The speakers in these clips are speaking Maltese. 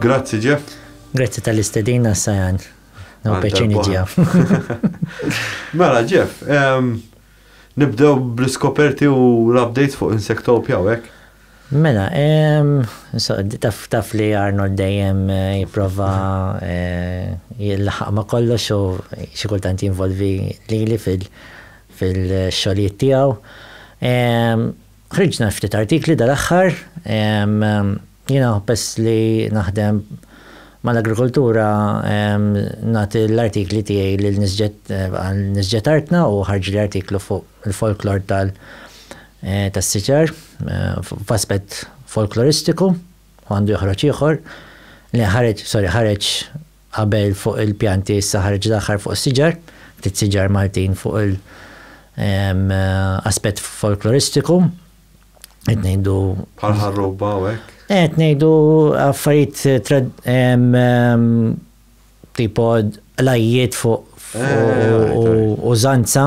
Grazzi Jeff. Grazzi tal-istedina Sajan. No peċini ġew. Mela Jeff, nibdew bl-iskoperti u l-updates fuq Insectopia u hekk. Mela, taf li Arnold dejjem eh, jiprofa eh, jil-ħaq ma kollox u xikultant jinvolvi li li fil-xoliet tijaw. Ħriġna ftit artikli dal-aħħar. Jiena peress li naħdem mal-agrikoltura nagħti l-artikli tiegħi lil Nisġet Artna u ħarġli artiklu fuq il-folklor tas-siġar f'aspett folkloristiku u għandu joħroġ ieħor li ħareġ sorry ħareġ Qabel fuq il-pjanti issa ħareġ l-aħħar fuq is-siġar, ftit siġar Maltin fuq il aspett folkloristiku. Qed ngħidu. Bħal ħarruba u hekk? Qed ngħidu affarijiet tipo l-għajjiet fuq użanza.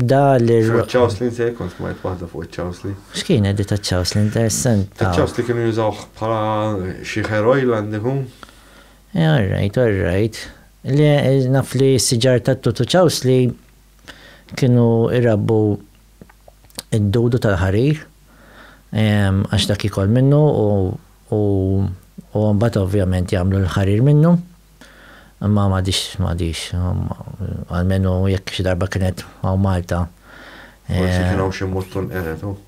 Da li. Fuq ċawslin se jkun smajt waħda fuq ċawslin. X'kien edit ta' ċawslin interessant. Ċawslin kienu jużawh bħala xi hair oil għandi hu. Eh, all right, all right. Le, naf li s-siġar ta' tutu ċawsli kienu irabbu id-dudu tal-ħarir, ehm, għax dak ikol minnu u mbagħad ovvjament jagħmlu l-ħarir minnu. Imma m'għadhiex, m'għadhiex. Almenu jekk xi darba kienet hawn Malta. Forsi kien hawn xi mutton qered hawn.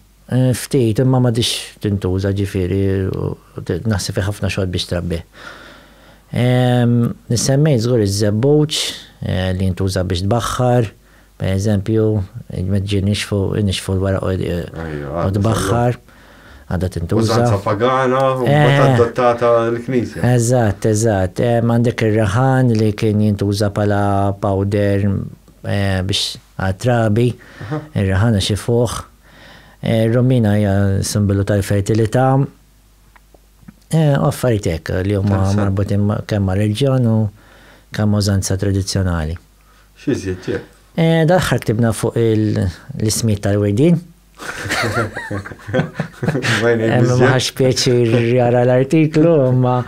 Ftit, imma m'għadhiex tintuża, ġifieri naħseb hi ħafna xogħol biex trabbih. Semmejt żgur iż-żebbuġ li jintuża biex tbaħħar, Per eżempju, il-meġġi nixfu, nixfu l-wara u tbaħħar, għadha tintuża. Użanza pagana, u eh. adottata l-Knisja. Eżatt, eżatt. Eh, Għandek ir-raħan li kien jintuża pala powder eh, biex għatrabi, ir-raħan għax ifuħ. Romina hija simbolu tal-fertilità. Affaritek li huma marbutin kemm ma' reġjon u kemm użanza tradizzjonali. X'izjed jekk? Eh, dal-ħar ktibna fuq l-ismiet tal-wirdin. Maħx pieċir jara l-artiklu, ma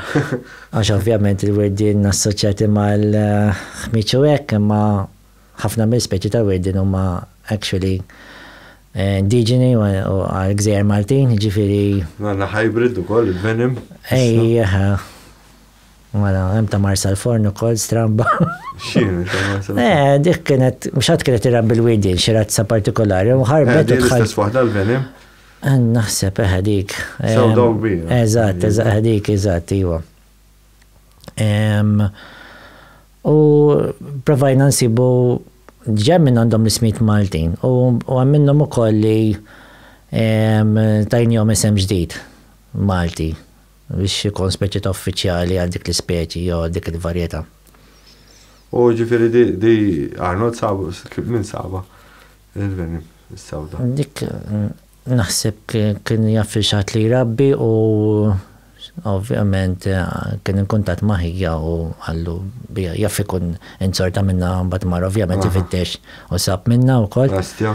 għax ovvjament il-wirdin assoċjati mal-ħmiċu hekk, imma ħafna mill-speċi tal-wirdin huma actually eh, indiġeni u għal-gżejjer Maltin, ġifiri. Għanna hybrid u koll, il-venim. Ej, Mela, hemm ta' Marsalforn ukoll stramba. X'inhu ta' Marsalforn? Eh, dik kienet, mhux ħadd kienet irab bil-widien, xi razza partikolari, u ħarbet. Eh, l-istess waħda l-venim? Eh, naħseb eħe eh, dik. Sew dawk bija. Eżatt, eżatt, dik, eżatt, iwa. U provajna nsibu ġem minn għandhom l-ismit Maltin u għamminnhom ukoll li tajnjom isem ġdid Malti. Biex ikun speċi ta' uffiċjali għal dik l-ispeċi jew għal dik il-varjetà. U ġifieri di Arnold sabu, minn sabha il-venin is-sewda? Dik naħseb kien jaf xi ħadd li jrabbi u ovvjament kien inkuntatt ma' ħija u qallu biha jaf ikun inzorta minnha mbagħad mar ovvjament ifittex u sab minnha wkoll. Bestja.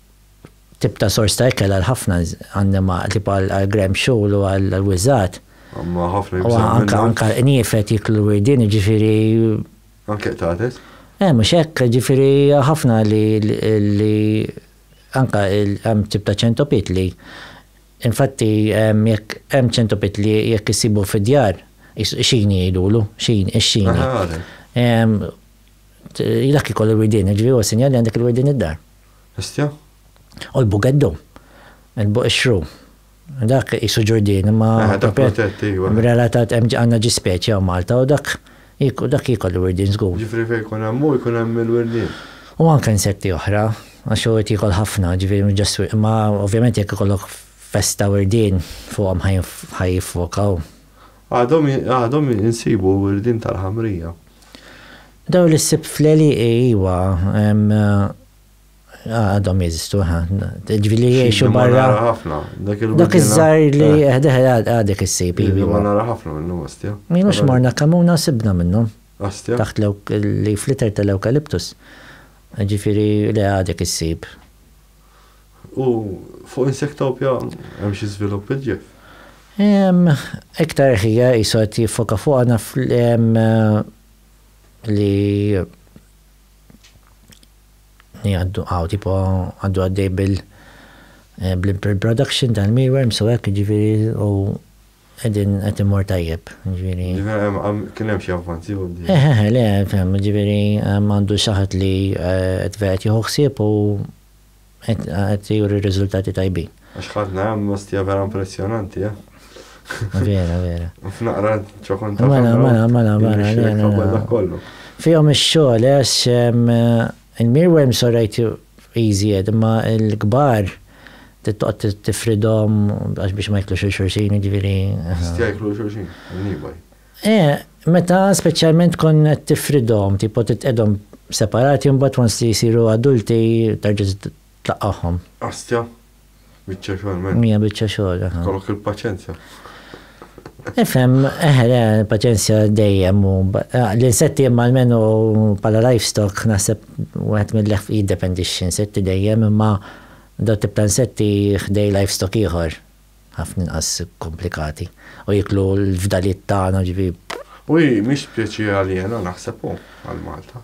tip ta' sors ta' ikel għal ħafna annima tip għal grem xul u għal wiżat. Għamma ħafna jibżaw. Anka anka nifet jiklu wirdin ġifiri. Anke qtates? Eh, mux hekk, ġifiri ħafna li li anka hemm tip ta' ċentopit li infatti jekk hemm ċentopit li jekk isibu fid-djar xin jgħidulu, xin, ix-xini. Dak ikollu wirdin, ġifiri u sinjali għandek il-wirdin id-dar. Hestia. U l-Bugeddu. Il-Buqixxru. Dak qisu Ġurdien imma. Aha, dak protett, ejwa. Relatat hemm għandna ġi speċi hawn Malta u dak dak jikol il-wirdien żgur. Jiġifieri fejn jkun hemm hu jkun hemm il-wirdien. U anke insetti oħra għax hu qed jiekol ħafna, jiġifieri mhux ġast wi imma ovvjament jekk ikollok festa wirdien fuqhom ħa jiffokaw. Għadhom għadhom insibu wirdien tal-ħamrija. Daw li ssib fl-għelieqi iwa għadhom jeżistu eħe. Ġifieri li jgħixu barra. Nara ħafna. Dak iż-żgħir li eħdeh għadek issib. Iva nara ħafna minnhom ostja. Minux morna Kamuna sibna minnhom. Ostja. Taħt l-ewk li fliter tal-ewkaliptus. Ġifieri le għadek issib. U fuq Insectopia hemm xi żvilupp il-ġef? Iktar ħija qisu qed jiffoka fuqha naf li li għaddu hawn tipo għaddu għaddej bil bl-production tal-mealworms u hekk jiġifieri u Qegħdin qed immur tajjeb, jiġifieri. Jiġifieri kien hemm xi avvanzi quddiem. Eħ eħ, le, fehm, jiġifieri għandu xi ħadd li qed vered jieħu ħsieb u qed juri riżultati tajbin. Għax ħadna hemm ostja vera impressjonanti, eh? Vera, vera. F'naqra ċokon ta' Mela, mela, mela, mela. Fihom ix-xogħol, eh, Il-mealworms all right iżjed imma l-kbar trid toqgħod tifridhom għax biex ma jiklux lil xulxin jiġifieri. Jistgħu jieklu lil xulxin in-niebaj? Eh, meta speċjalment tkun qed tifridhom, tipo titqiegħdhom separati u mbagħad once li jsiru adulti terġa' Tlaqqagħhom. Astja, biċċa xogħol men. Mija biċċa xogħol, aha. Kollok il-paċenzja. Ifhem, eħe, le, paċenzja dejjem u l-insetti imma almenu bħala livestock naħseb wieħed mill-leħf jiddependi x'insetti dejjem imma daw tip ta' insetti ħdej livestock ieħor ħafna inqas komplikati u jiklu l-fdalijiet tagħna ġifi. U hi mhix speċi aljena naħseb hu għal Malta.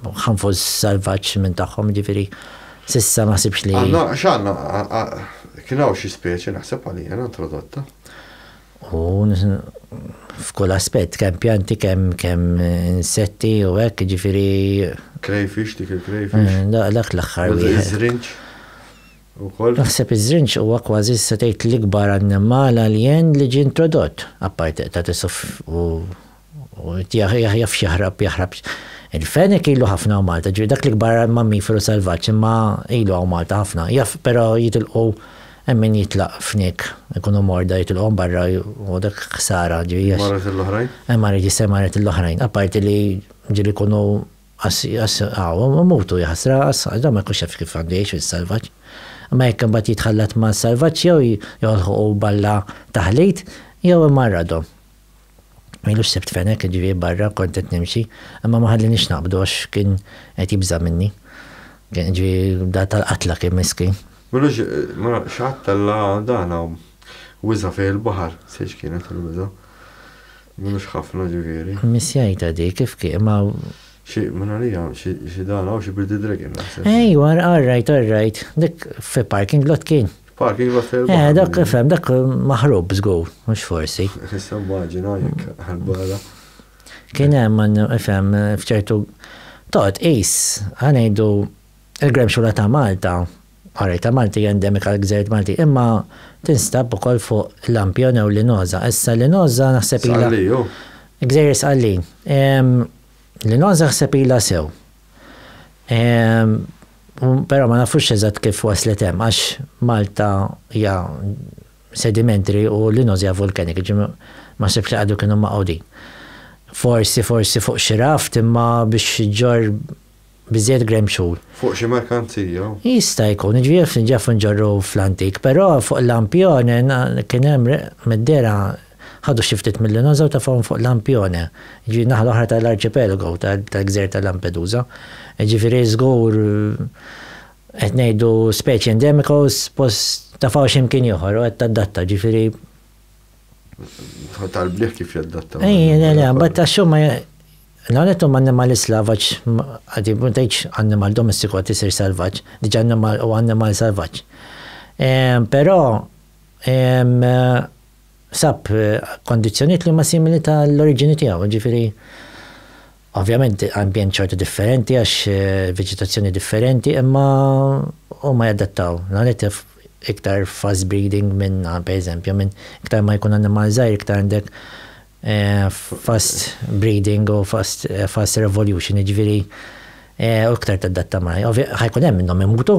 Ħanfuż salvaġġ minn tagħhom, jiġifieri s'issa ma ħsibx li. Għandna, x'għandna, kien hawn xi speċi naħseb aliena introdotta. U f'kull aspett, kemm pjanti, kemm kemm insetti u hekk, jiġifieri. Crayfish, dik il-crayfish. Dak l-aħħar. Iż-żrinġ. Ukoll. Naħseb iż-żrinġ huwa kważi se tgħid l-ikbar annimal alien li ġie introdott, apparti qtagħat isuf u U qed jaħjaf x'jaħrab jaħrab Il-fenek ilu ħafna hawn Malta, ġifieri dak l-ikbar mammiferu selvaġġ imma ilu hawn Malta ħafna. Jaf però jitilqu hemm min jitlaq fnik, ikunu morda jitilqu barra u dak ħsara ġifieri għax. Marret lill-oħrajn? Eh marret jista' marret lill-oħrajn. Apparti li ġieli jkunu hawn imutu jaħasra għax dawn ma jkunx jaf kif għandu jgħix fis-selvaġġ. Imma jekk imbagħad jitħallat mas-selvaġġ jew jolħqu balla taħlit jew imarradhom. Ma ilux sibt Fenek, jiġifieri barra, kont qed nimxi, imma ma ħallienix naqbdu għax kien qed jibża' minni. Kien, jiġifieri, dar tal-qatla kien, miskin. Mela x'għattella dan hawn? Wiża' fih il-baħar? Sejx kienet il-wiża'. M'ilux ħafna, jiġifieri. Missjajtha dik, kif kien, ma. Xi, minn għalija, xi dan hawn, xi birdie dragon naħseb. Ejwa, all right, all right. Dik fi parking lot kien. Pak, iva fil Eh, dak fem, dak maħrub żgur, mhux forsi. Issa mmaġina jekk għal-barra. Kien hemm fem f'ċertu toqgħod qis ħanejdu il-grem xula ta' Malta. Għarri ta' Malti endemika l-gżert Malti, imma tinstab ukoll fuq Lampjon u Linoza. Issa Linoza naħseb ila. Gżejjer Sqallin. Linoza naħseb ila sew. Però ma nafux eżatt kif waslet hemm għax Malta hija sedimentary u l-Inos hija vulkanika, jiġifieri ma naħsibx li qagħdu kienu maqgħudin. Forsi, forsi fuq xi raft imma biex iġġorr biżżejjed gremxul. Fuq xi merkanzija? Jista' jkun, jiġifieri jaf inġorru fl-antik, però fuq Lampione kien hemm mid-dehra Ħadu xi ftit mill-Linosa u tafgħuhom fuq Lampione, jiġifieri n-naħa l-oħra ta' l-arċipelago tal-gżejjer ta' Lampedusa. Jiġifieri żgur qed ngħidu speċi endemika u suppost tafgħu xi mkien ieħor u qed tadatta, jiġifieri. Tal-bliħ kif jaddatta. Ejja, le, le, mbagħad tax-xuma L-għanet huma annimali slavaġ, għadi ma tgħidx annimal domestiku għad isir salvaġġ, diġà annimal u annimal salvaġġ. Però sab kondizzjonijiet li huma simili ta' l-oriġini tiegħu, jiġifieri ovvjament ambjent xorta differenti għax veġetazzjoni differenti imma huma jadattaw. L-ewwel nett iktar fast breeding minn pereżempju minn iktar ma jkun annimal żgħir iktar għandek fast breeding u fast fast revolution jiġifieri u iktar tadatta ma ħa jkun hemm minnhom imutu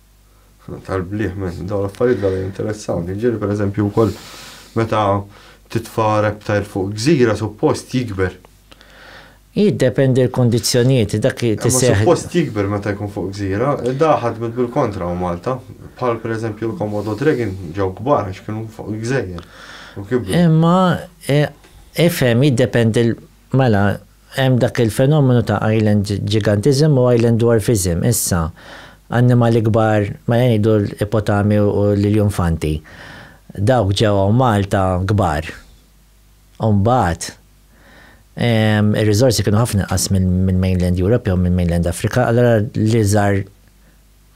tal-bliħ minn dawn l-affarijiet għal interessawni. Ġiri per eżempju wkoll meta titfa' reptajl fuq gżira suppost jikber. Jiddependi l-kondizzjonijiet, dak eh, tiseħ. Suppost jikber meta jkun fuq gżira, daħad mid bil-kontra u Malta, bħal per eżempju l-Komodo Dragon ġew kbar għax kienu fuq gżejjer. Imma eh, ifhem jiddependi mela Hemm dak il-fenomenu ta' island gigantism u island dwarfism. Issa, annimali kbar, mela ngħidu l-ipotami u l-iljunfanti, dawk ġew hawn Malta kbar. U mbagħad, ir-riżorsi kienu ħafna inqas mill-mainland Europe jew mill-mainland Africa, allura l-iżgħar,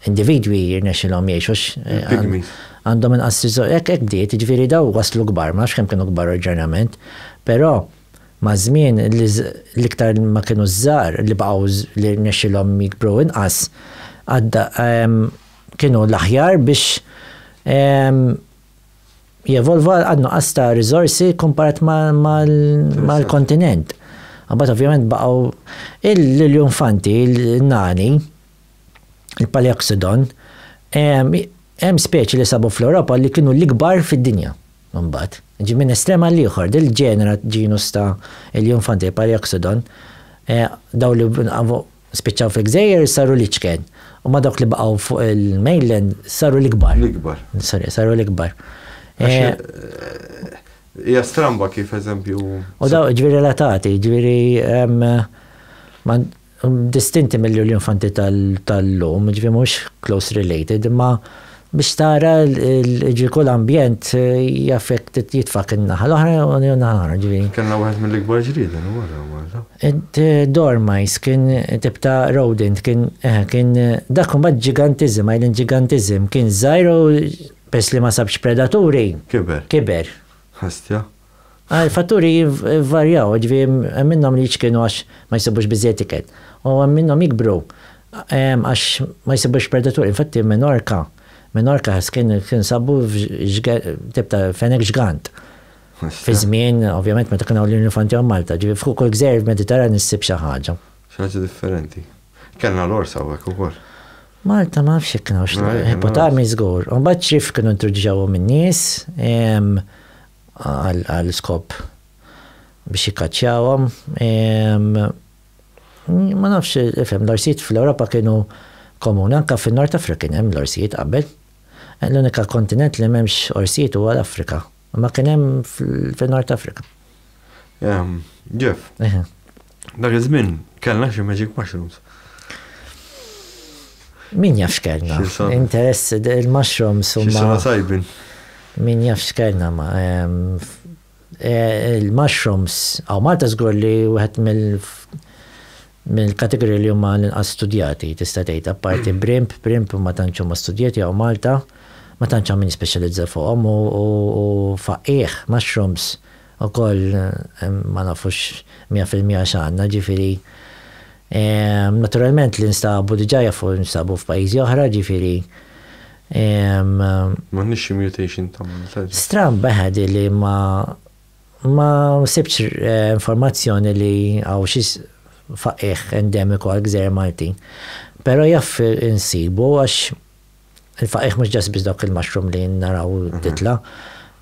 Individwi jirnexxilhom jgħixu x. Il-pygmies. Għandhom inqas riżorsi. Hekk hekk bdiet, jiġifieri dawn waslu kbar, ma nafx kemm kienu kbar oriġinarjament, però maż-żmien l-iktar ma kienu ż-żgħar li baqgħu li rnexxilhom jikbru inqas għadda kienu l-aħjar biex jevolva għan-nuqqas ta' riżorsi kkumparat mal-kontinent. Imbagħad ovvjament baqgħu l-iljunfanti, n-nani, il-Paleoxodon, hemm speċi li sabu fl-Ewropa li kienu l-ikbar fid-dinja mbagħad. Ġi minn estrem għal ieħor, dil ġenera ġinus ta' Elionfantae Paleoxodon, daw li spiċċaw fil-gżejjer saru l-iċken, u ma dawk li baqgħu fuq il-mainland saru l-ikbar. L-ikbar. Sorry, saru l-ikbar. Hija stramba kif eżempju. U daw ġifieri relatati, ġifieri distinti mill-Lulju Infanti tal-lum, jiġifieri mhux close related, imma biex tara jiġifieri kull ambjent jaffetti jitfak in-naħa l-oħra u n-naħa l-oħra, jiġifieri. Kellna wieħed mill-ikbar ġrieden u wara Malta. Id-dormice kien tip ta' rodent, kien eħe kien dak imbagħad ġigantiżm, island ġigantiżm, kien żgħir u peress li ma sabx predaturi. Kiber. Kiber. Ħastja. Il-fatturi jvarjaw, jiġifieri hemm minnhom li jiċkenu għax ma jsibux biżżejjed ikel, u hemm minnhom jikbru għax ma jsibux predaturi. Infatti f'Minorka, Minorca, kien sabu tip ta' fenek ġgant. Fi żmien, ovvjament, meta kien hawn l-Infanti hawn Malta. Ġifieri fuq kull gżejjer f'Mediterran issib xi ħaġa. Xi ħaġa differenti. Kellna l-ors hawnhekk ukoll. Malta ma nafx jekk kien hawnx l-ors. Ipotami żgur. U mbagħad ċriev kienu introduċewhom in-nies, għal skop biex jikkaċċjawhom. Ma nafx, ifhem, l-orsijiet fl-Ewropa kienu komuni, anke fin-Nord Afrika kien hemm l-orsijiet qabel. L-unika kontinent li m'hemmx orsijiet huwa l-Afrika. Ma kien hemm fin-Nord Afrika. Jeff. Dak iż-żmien kellna xi magic mushrooms. Min jaf x'kellna? Interess il-mushrooms huma. X'sena tajbin. Min jaf x'kellna ma eh, il-mushrooms għaw Malta żgur li wieħed mill mill-kategorija li huma l-inqas studjati tista' tgħid apparti brimp, brimp ma tantx huma studjati għaw Malta ma tantx min speċjalizza fuqhom u faqih mushrooms Ukoll ma nafux mija fil-mija x'għandna, ġifieri naturalment li nstabu diġà jafu nstabu f'pajjiżi oħra, ġifieri. M'għandniex xi mutation ta' Malta. Stramb eħe di li ma ma sibtx informazzjoni li hawn xi faqigħ endemiku għall-gżejjer Maltin. Però jaf insibu għax. Il-faqigħ mhux ġast biss dawk il-mushroom li naraw titla'.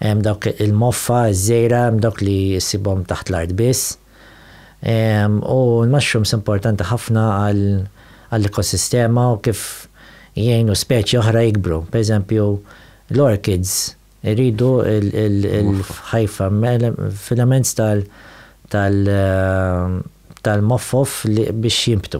Hemm dawk il-moffa, iż-żejra, hemm dawk li ssibhom taħt l-art biss. U l-mushrooms importanti ħafna għall-ekosistema u kif jgħinu speċi oħra jikbru. Per eżempju, l-orchids iridu l-ħajfa, filaments tal-moffof biex jinbtu.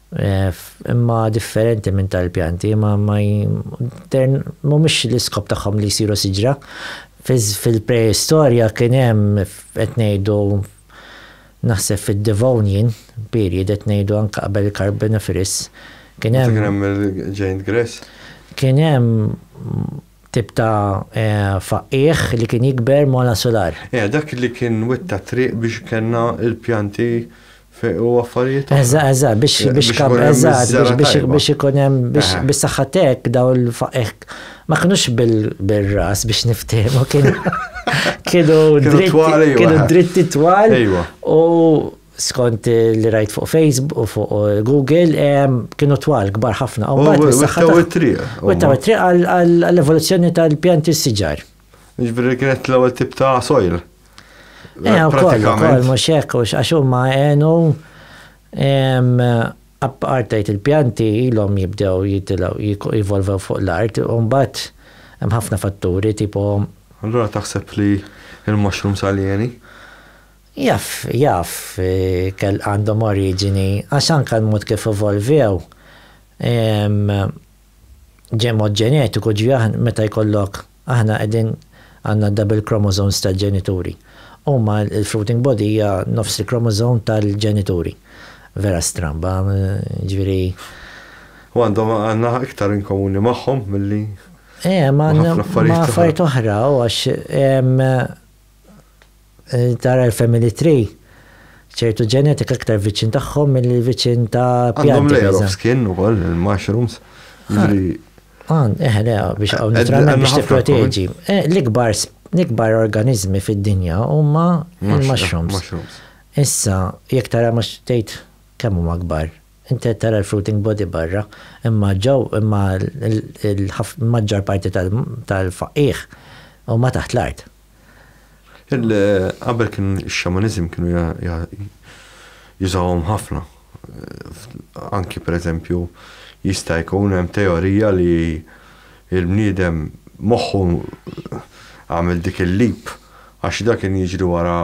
Imma differenti minn tal pjanti ma mhumiex l-iskop tagħhom li jsiru siġra. Fil-preistorja kien hemm qed ngħidu naħseb fid-Devonian period qed ngħidu anke qabel il-Carboniferous kien hemm. Kien hemm il-giant grass? Kien hemm tip ta' faqqiegħ li kien jikber mola solar. Dak li kien witta triq biex kellna l-pjanti u affarijiet oħra. Eżatt, eżatt, biex eh, biex kab eżatt, biex biex ikun hemm biex eh. biex saħħatek daw il-faqek. Ma kinux bil-ras biex niftehmu kien kienu dritti kienu dritti twal u skont li rajt fuq Facebook u fuq eh, Google kienu twal kbar ħafna. U għattaw it-triq. U għattaw it-triq għall-evoluzzjoni tal-pjanti s-siġar. Ġviri kienet l-ewwel tip ta' soil. Eh, u koll, koll, mux hekk, għax huma għenu appartajt il-pjanti ilhom jibdew jitilaw, jivolvew fuq l-art, u mbagħad hemm ħafna fatturi tipo. Allura taħseb li il-mushroom saljeni? Jaf, jaf, eh, kell għandhom oriġini, għax anka l-mod kif evolvew, ġemgħu ġenetiku ġi aħn meta jkollok aħna qegħdin għandna double chromosomes tal-ġenituri. Huma l-fruiting body hija nofs il-chromosome tal-ġenituri. Vera stramba, ġifieri. U għandhom għandna iktar in komuni magħhom milli. Eh, ma' affarijiet oħra, għax Tara l-family tree, ċertu ġenetika aktar viċin tagħhom milli viċin ta' pjanti. Għandhom layer of skin ukoll il-mushrooms. Għand, eħe, le, biex għaw naturalment biex tipproteġi. Eh, l-ikbar, l-ikbar organizmi fid-dinja huma il-mushrooms. Issa, jekk tara mhux tgħid kemm huma kbar. Inti tara l-fruiting body barra, imma ġew imma l-maġġor parti tal-faqih huma taħt l-art. Qabel kien ix-xamaniżm kienu jużawhom ħafna. Anki pereżempju jista' jkun hemm teorija li l-bniedem moħħu għamel dik il-leap għax dak kien jiġri wara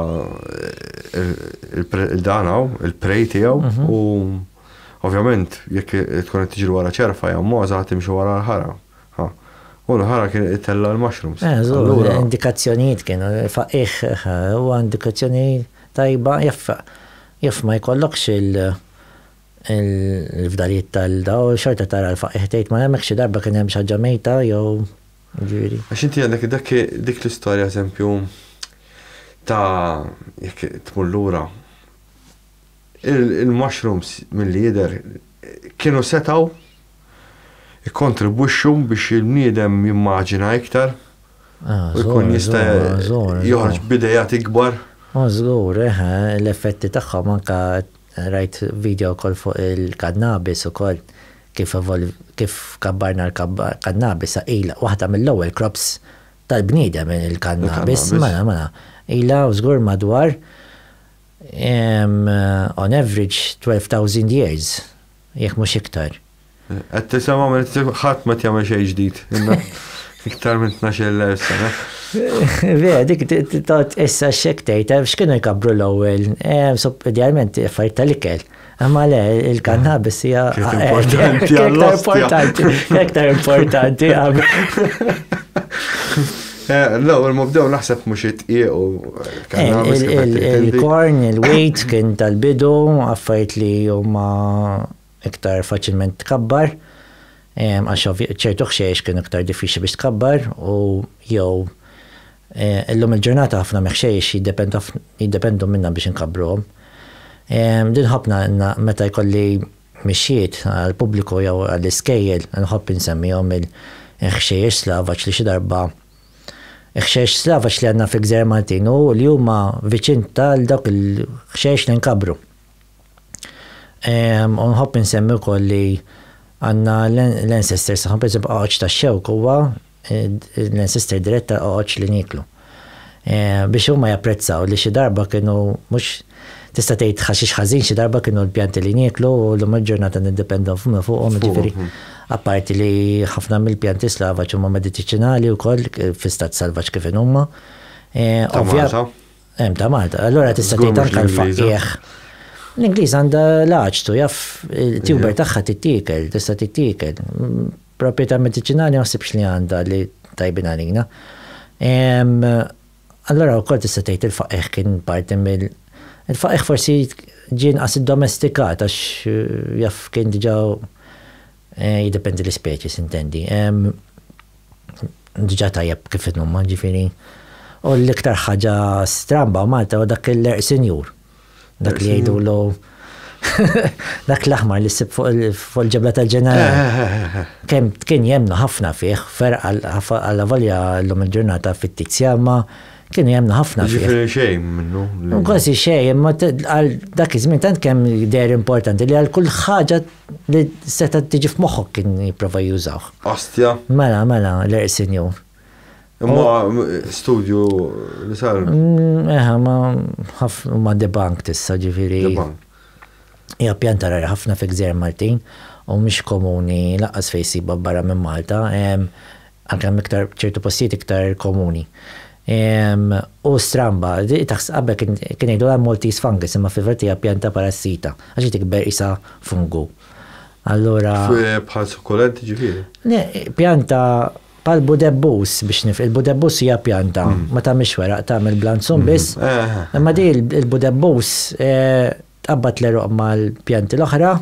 dan hawn, il-prey tiegħu u ovvjament jekk tkun qed tiġri wara ċerfa jew mogħża ħa timxi wara l-ħara. Ha. U l-ħara kien itella' l-mushrooms. Eh, żgur, Allura. indikazzjonijiet kienu, faqqigħ, huwa indikazzjoni tajba jaf jaf ma jkollokx il- il-fdalijiet tal-dawl u xorta tara l-faqqigħ tgħid ma hemmx xi darba kien hemm xi ħaġa mejta jew jiġifieri. Għax inti għandek dak dik l-istorja eżempju ta' jekk tmur lura Il-mushrooms milli jidher kienu setgħu jikkontribwixxu biex il-bniedem jimmaġina iktar u jkun jista' joħroġ b'ideat ikbar. O żgur, eh, l-effetti tagħhom anke rajt vidjo wkoll fuq il-kannabis ukoll kif kif kabbarna l-kannabis ilha waħda mill-ewwel crops tal-bniedem il-kannabis. Mela, mela. Ilha żgur madwar on average 12,000 years, jekk mhux iktar. Qed tisimgħu minn ħadd ma qed jagħmel xejn ġdid. Iktar minn 12,000 sena. Ve, dik tot issa x'hekk tgħid, x'kienu jkabbru l-ewwel, idealment affarijiet tal-ikel. Imma le, il-kannabis hija. Importanti għall-iktar importanti. Iktar importanti għam. Eh, no, il-mubdew naħseb mux it-tiequ. Il-korn, eh, il-wejt kien tal-bidu, għaffajt li jumma iktar faċilment tkabbar, għax ċertu xiex kien iktar diffiċi biex tkabbar u jew Illum il-ġurnata ħafna mexxejx jiddependu minna biex inkabbruhom. Din ħobbna għandna meta jkolli mixjiet għall-pubbliku jew għall-iskejjel nħobb insemmihom il-ħxejjex Slavaċ li xi darba Il-ħxejjex Slavaċ li għandna fil-Gżejjer Maltin u li huma viċin ta' dawk il-ħxejjex li nkabbru. U nħobb insemmi wkoll li għandna l-ancestors tagħhom, pereżempju Għawġ tax-Xewk huwa Ninsisti d-diretta oqgħodx li nieklu. Biex huma japprezzaw li xi darba kienu mhux tista' tgħid ħaxix ħażin xi darba kienu l-pjanti li nieklu u llum il-ġurnata niddependu fuqhom jiġifieri apparti li ħafna mill-pjanti slavaġ huma meditiċinali wkoll fi stat salvaġġ kif inhuma. Ta' Malta. Hemm ta' Malta. Allura tista' tgħid anke l-faqqiegħ. L-Ingliża għandha l-għaġtu jaf it-tuber tagħha tittiekel, tista' tittiekel. Proprjetà mediċinali ma ħsibx li għandha li tajbin għalina. Allura wkoll tista' tgħid il-faqigħ kien parti mill il-faqigħ forsi ġie inqas iddomestikat għax jaf kien diġà jiddependi l-ispeċi sintendi. Diġà tajjeb kif inhuma ġifieri. U l-iktar ħaġa stramba Malta huwa dak il-għerq sinjur. Dak li jgħidu l dak l-aħmar li sib fuq il-ġebla tal-ġenerali. Eh, eh, eh, Kem kien jemnu ħafna fih, fer għalla volja l-lum il-ġurnata fittizja, ma kien jemnu ħafna fih. Ġifiri xejn minnu. Kważi xejn, ma għal dak iż-żmien tant kemm der importanti li għal kull ħaġa li seta tiġi f'moħħok kien jipprova jużawh. Ostja. Mela, mela, l-ersinju. Imma studju li sar. Mm, eħa, ma ħafna ma debank tissa ġifiri. Debank. Ja pjanta rari ħafna fi gżer Maltin u mhix komuni laqas fejn siba barra minn Malta, anke iktar ċertu postijiet iktar komuni. U stramba, taħs qabel kien jgħidu għal Maltese fungus imma fil-verti hija pjanta parassita għax tikber isa fungu. Allura. Bħal sukulenti ġifieri. Pjanta Bħal budebbus biex nif, il-budebbus hija pjanta, ma tagħmilx weraq, tagħmel blanzun biss. Imma di il-budebbus tqabbad l-għeruq mal-pjanti l-oħra.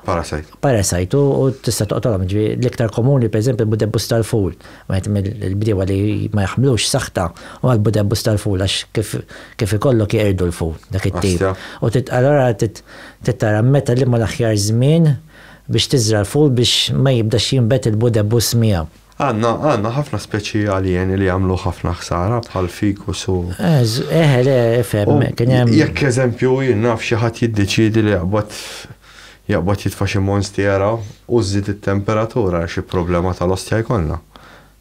Parasajt. Parasajt u tista' toqtolhom ġi l-iktar komuni pereżempju l-budebbus tal-ful. Wieħed mill-bdiewa li ma jaħmlux saħta u l-budebbus tal-ful għax kif ikollok jeqirdu l-ful dak it-tip. U allura tittara meta li ma l-aħjar żmien Biex tiżra' l-ful biex ma jibdax jinbet il-budebbus miegħu. Għandna, għandna ħafna speċi aljeni li jagħmlu ħafna ħsara bħall-ficus u. Eħe le, ifhem, kien hemm. U jekk eżempju jien naf xi ħadd jiddeċiedi li jaqbad, jaqbad jitfa' xi monstiera u żżid it-temperatura, xi problema tal-ostja jkollna.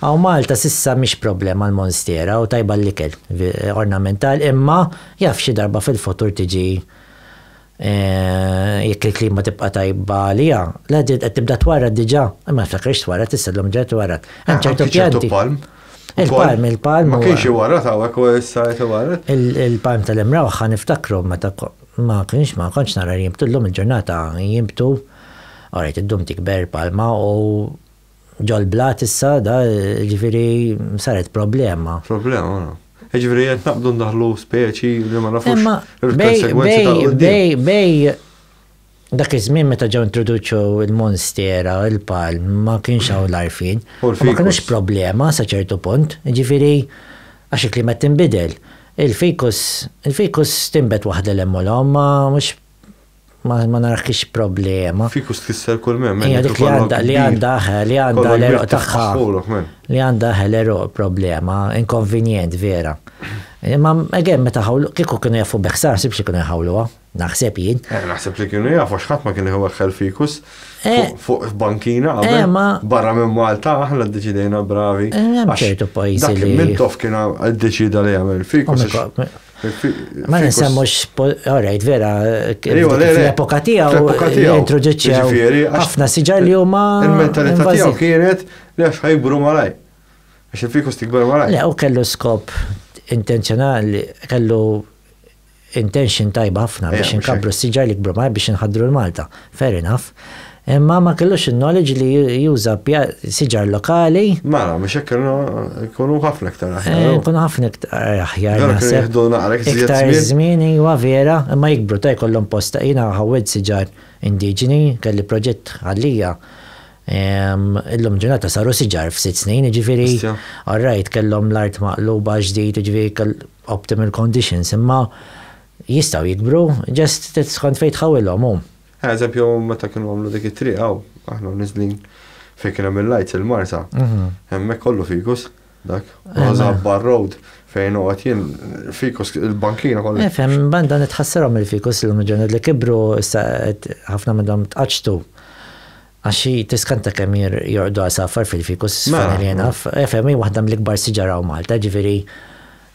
Hawn Malta s'issa mhix problema l-monstiera u tajba l-ikel, ornamental imma jaf xi darba fil-futur tiġi jekk il-klima tibqa' tajba għaliha. Le din qed tibda twarrad diġà, imma niftakrx twarrad issa llum ġejja twarrad. Hemm ċertu pjanti. Anki ċertu palm. Il-palm, il-palm. Ma kienx iwarrad hawnhekk u issa qed iwarrad. Il-palm tal-Imrawħa niftakru meta ma kienx ma kontx nara jinbtu llum il-ġurnata jinbtu. Orajt iddum tikber palma u Ġol-blat issa da ġifieri saret problema. Problema, no. Ġifieri qed naqbdu ndaħlu speċi li ma nafux il-konsegwenzi tal-qudiem. Bej dak iż-żmien meta ġew introduċu l-monstera, il-palm, ma kienx hawn l-arfin. Ma kienux problema sa ċertu punt, ġifieri għax il-klima tinbidel. Il-fikus, il-fikus tinbet waħda l-hemm u l-omm, ma mhux Ma ma narakx problema. Fiku stkisser kull mem. Hija dik li għandha li għandha li għandha l-eruq tagħha. Li għandha l-eruq problema, inkonvenjent vera. Imma again meta ħawlu kieku kienu jafu beħsa naħseb xi kienu jħawluha, naħseb jien. Eh, naħseb li kienu jafu x'ħadd ma kien iweħħel fikus eh. fuq bankina eh, qabel barra minn Malta aħna ddeċidejna bravi. Hemm ċertu pajjiżi li. Dak minn tof kien ddeċida li jagħmel fikus. Ma nisemmux, alright, vera, l-epoka tiegħu introduċew ħafna siġar li huma. Il-mentalità tiegħu kienet li għax ħajbru malaj. Għax il-fikus tikber malaj. Le, u kellu skop intenzjonali, kellu intention tajba ħafna biex inkabru s-siġar li kbru malaj biex inħadru l-Malta. Fair enough. Imma ma kellux il-knowledge li juża siġar lokali. Mela, biex hekk kienu jkunu ħafna iktar aħjar. Eh, jkunu ħafna iktar aħjar. Vera kienu jieħdu naqra iktar żmien. Iva vera, imma jikbru ta' jkollhom posta. Jiena ħawwed siġar indiġeni, kelli proġett għalija. Illum ġurnata saru siġar f'sitt snin, ġifieri. All right, kellhom l-art maqluba ġdid, ġifieri optimal conditions, imma jistgħu jikbru, ġest skont fejn tħawilhom hu. Eħe, eżempju, meta kienu għamlu dik it-triq hawn, aħna niżlin fejn kien hemm il-lajts il-Marsa. Mhm. Hemmhekk kollu fikus, dak. Rosa Bar Road fejn għat jien fikus il-bankina kollu. Nifhem, eh, banda nitħassarhom il-fikus l-lum ġurnat li kibru issa ħafna minnhom tqaċtu. Għax hi tiskanta kemm jorqdu għasafar fil-fikus, Fanelli Enough. Efhem, hi waħda mill-ikbar siġar hawn Malta, jiġifieri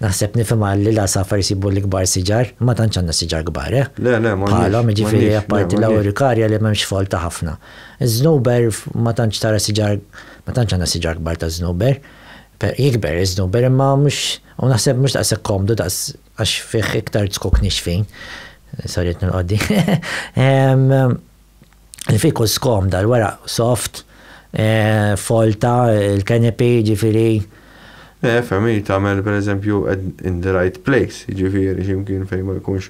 naħseb nifhimha li l-għasafar isibu l-ikbar siġar. Ma tantx għandna siġar kbar, eh? Le, le, m'għandniex. Bħalhom, jiġifieri apparti l-Auricaria li m'hemmx folta ħafna. Iż-żnuber ma tantx tara siġar, ma tantx għandna siġar kbar ta' żnuber. Jikber iż-żnuber imma mhux, u naħseb mhux daqshekk komdu daqs għax fih iktar zkuk nixfin. Sorry qed nilqgħod din. Il-fikus komda, l-weraq soft, folta, il-canopy, jiġifieri. Eh, fehmi, tagħmel pereżempju in the right place, jiġifieri x'imkien fejn ma jkunx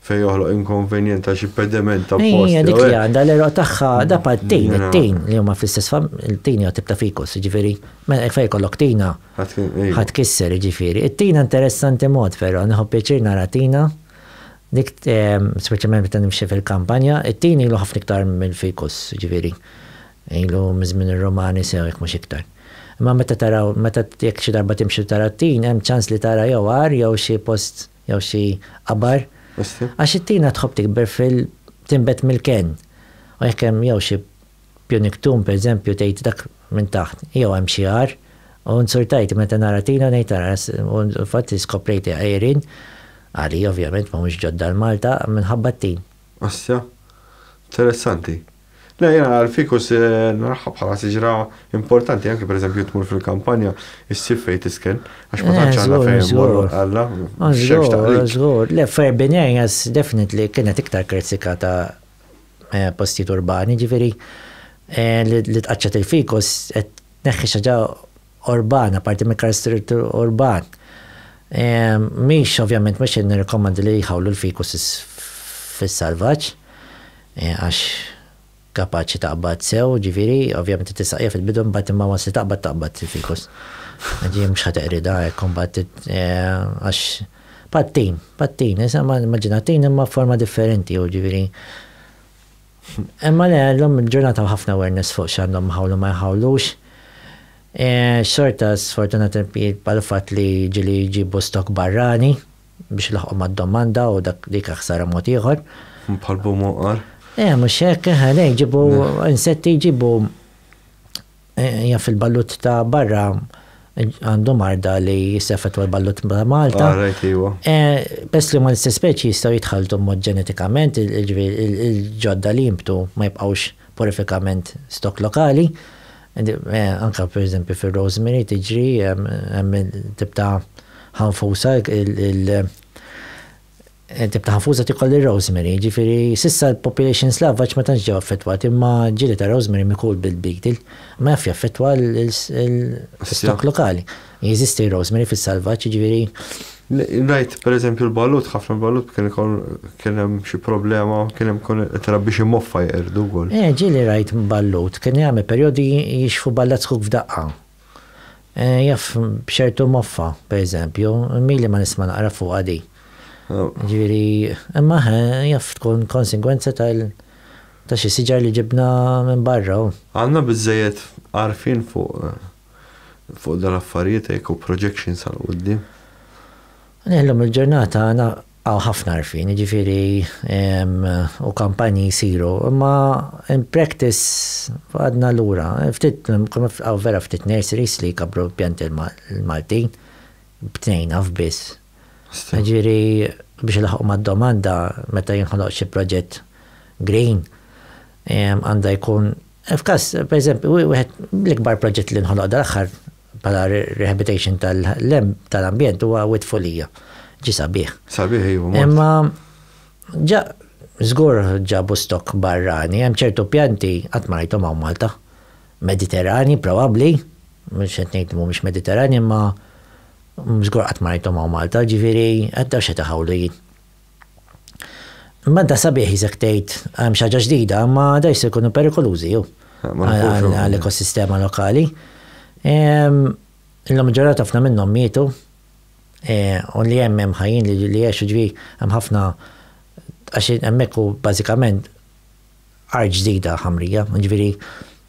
fejn joħloq inkonvenjent ta' xi pedement ta' post. Hija dik li għandha l-eroq tagħha da pat-tin, it-tin li huma fl-istess fam, il-tin hija tip ta' fikus, jiġifieri mela hekk fejn jkollok tina ħadd kisser jiġifieri. It-tina interessanti mod però, nieħu pjaċir nara tina. Dik speċjalment meta nimxi fil-kampanja, it-tin ilu ħafna iktar mill-fikus, jiġifieri ilu miż-żmien ir-Rumani sew jekk mhux iktar. Imma meta taraw, meta jekk xi darba timxi u tara t-tin, hemm ċans li tara jew għar jew xi post jew xi qabar. Għax it-tina tħobb tikber fil, tinbet mill-kenn. U jekk hemm jew xi Punic Tomb per eżempju tgħid dak minn taħt jew hemm xi għar u insultajt meta nara Tina ngħid ara u fil-fatt iskoprejt għerin, għali ovvjament m'humiex ġodda għal Malta, minħabba t-tin. Asja. Interessanti. Le jiena l-ficus naraha bħala siġra importanti anke per eżempju tmur fil-kampanja issib fejn tisken għax ma tantx għandna fejn immorru għalla. Żgur, żgur. Le f'Urban Areas definitely kienet iktar kritikata postijiet urbani, ġifieri li tqaċċat il-fikus qed tneħħi xi ħaġa urbana, parti mill-karastrittu urban. Mhix ovvjament mhux qed nirrikkomandi li jħawlu l-fikus fis-salvaġġ għax kapaċi taqbad sew, ġifieri ovvjament tistaqija fil-bidu mbagħad imma once li taqbad taqbad il-fikus. Ġifieri mhux ħa teqridha hekk imbagħad għax Patin, patin, issa immaġina tin imma f'forma differenti jew ġifieri. Imma le, llum il-ġurnata hawn ħafna awareness fuq x'għandhom iħawlu ma jħawlux. Xorta sfortunat jibqa' l-fatt li ġieli jġibu stock barrani biex ilaħħqu mad-domanda u dak dik hija ħsara mod ieħor. Bħall-bum oqar. Eh, mhux hekk, eħe, le jġibu insetti jġibu Hija fil-ballut ta' barra għandu marda li jissefet għal ballut ta' Malta. Għarajt li huwa. Pest li ma l-istess speċi jistgħu jitħaltu mod ġenetikament, il-ġodda li jimbtu ma jibqgħux porifikament stok lokali. Anka per eżempju fir-rosemary tiġri hemm tip ta' ħanfusa Tip ta' ħafuża tiekol ir-rosemary, jiġifieri s'issa l-population Slavaġ ma tantx ġew affettwati imma ġieli ta' rosemary mikul bil-beetle ma jafx jaffettwa l-istokk lokali. Jeżisti r-rosemary fis-salvaġġ, jiġifieri. Ngħid pereżempju l-balut, ħafna l-balut kien ikoll kien hemm xi problema, kien hemm ikun qed irabbi xi moffa jeqirdu wkoll. Ġieli rajt ballut kien jagħmel perjodi jixħfu ballazz kuk f'daqqa. Jaf, b'ċertu moffa, per eżempju, mili ma nisma' naqra fuqha di. Ġifieri, imma eħe, jaf tkun konsegwenza tal ta' xi siġar li ġibna minn barra u. Għandna biżżejjed għarfien fuq fuq dal-affarijiet hekk u projections għall-quddiem? Illum il-ġurnata Hawn ħafna għarfien, jiġifieri, u kampanji jsiru, imma in practice għadna lura. Ftit, hawn vera ftit nurseries li jkabbru l-pjanti l-Maltin, b'tnejn naf biss. Jiġifieri, biex ilaħħqu mad-domanda meta jinħoloq xi proġett green, għandha jkun, f'każ, pereżempju, wieħed mill-ikbar proġetti li nħoloq dal-aħħar Bħala rehabilitation tal-ambjent huwa wit folija. Ġi sabiħ. Sabiħ iva. Imma ġa żgur ġabu stok barrani, hemm ċertu pjanti qatt ma rajthom hawn Malta. Mediterrani probabbli, mhux qed ngħid mhumiex Mediterrani imma żgur qatt ma rajthom hawn Malta, ġifieri għadda x'qed iħawlu jien. Imma inta sabiħ jisek tgħid hemm xi ħaġa ġdida, imma da jista' jkunu perikolużi jew għall-ekosistema lokali. Illum ġurnata ħafna minnhom mietu u li hemm hemm ħajjin li jgħixu ġri hemm ħafna għax hemmhekk hu bażikament art ġdida ħamrija, jiġifieri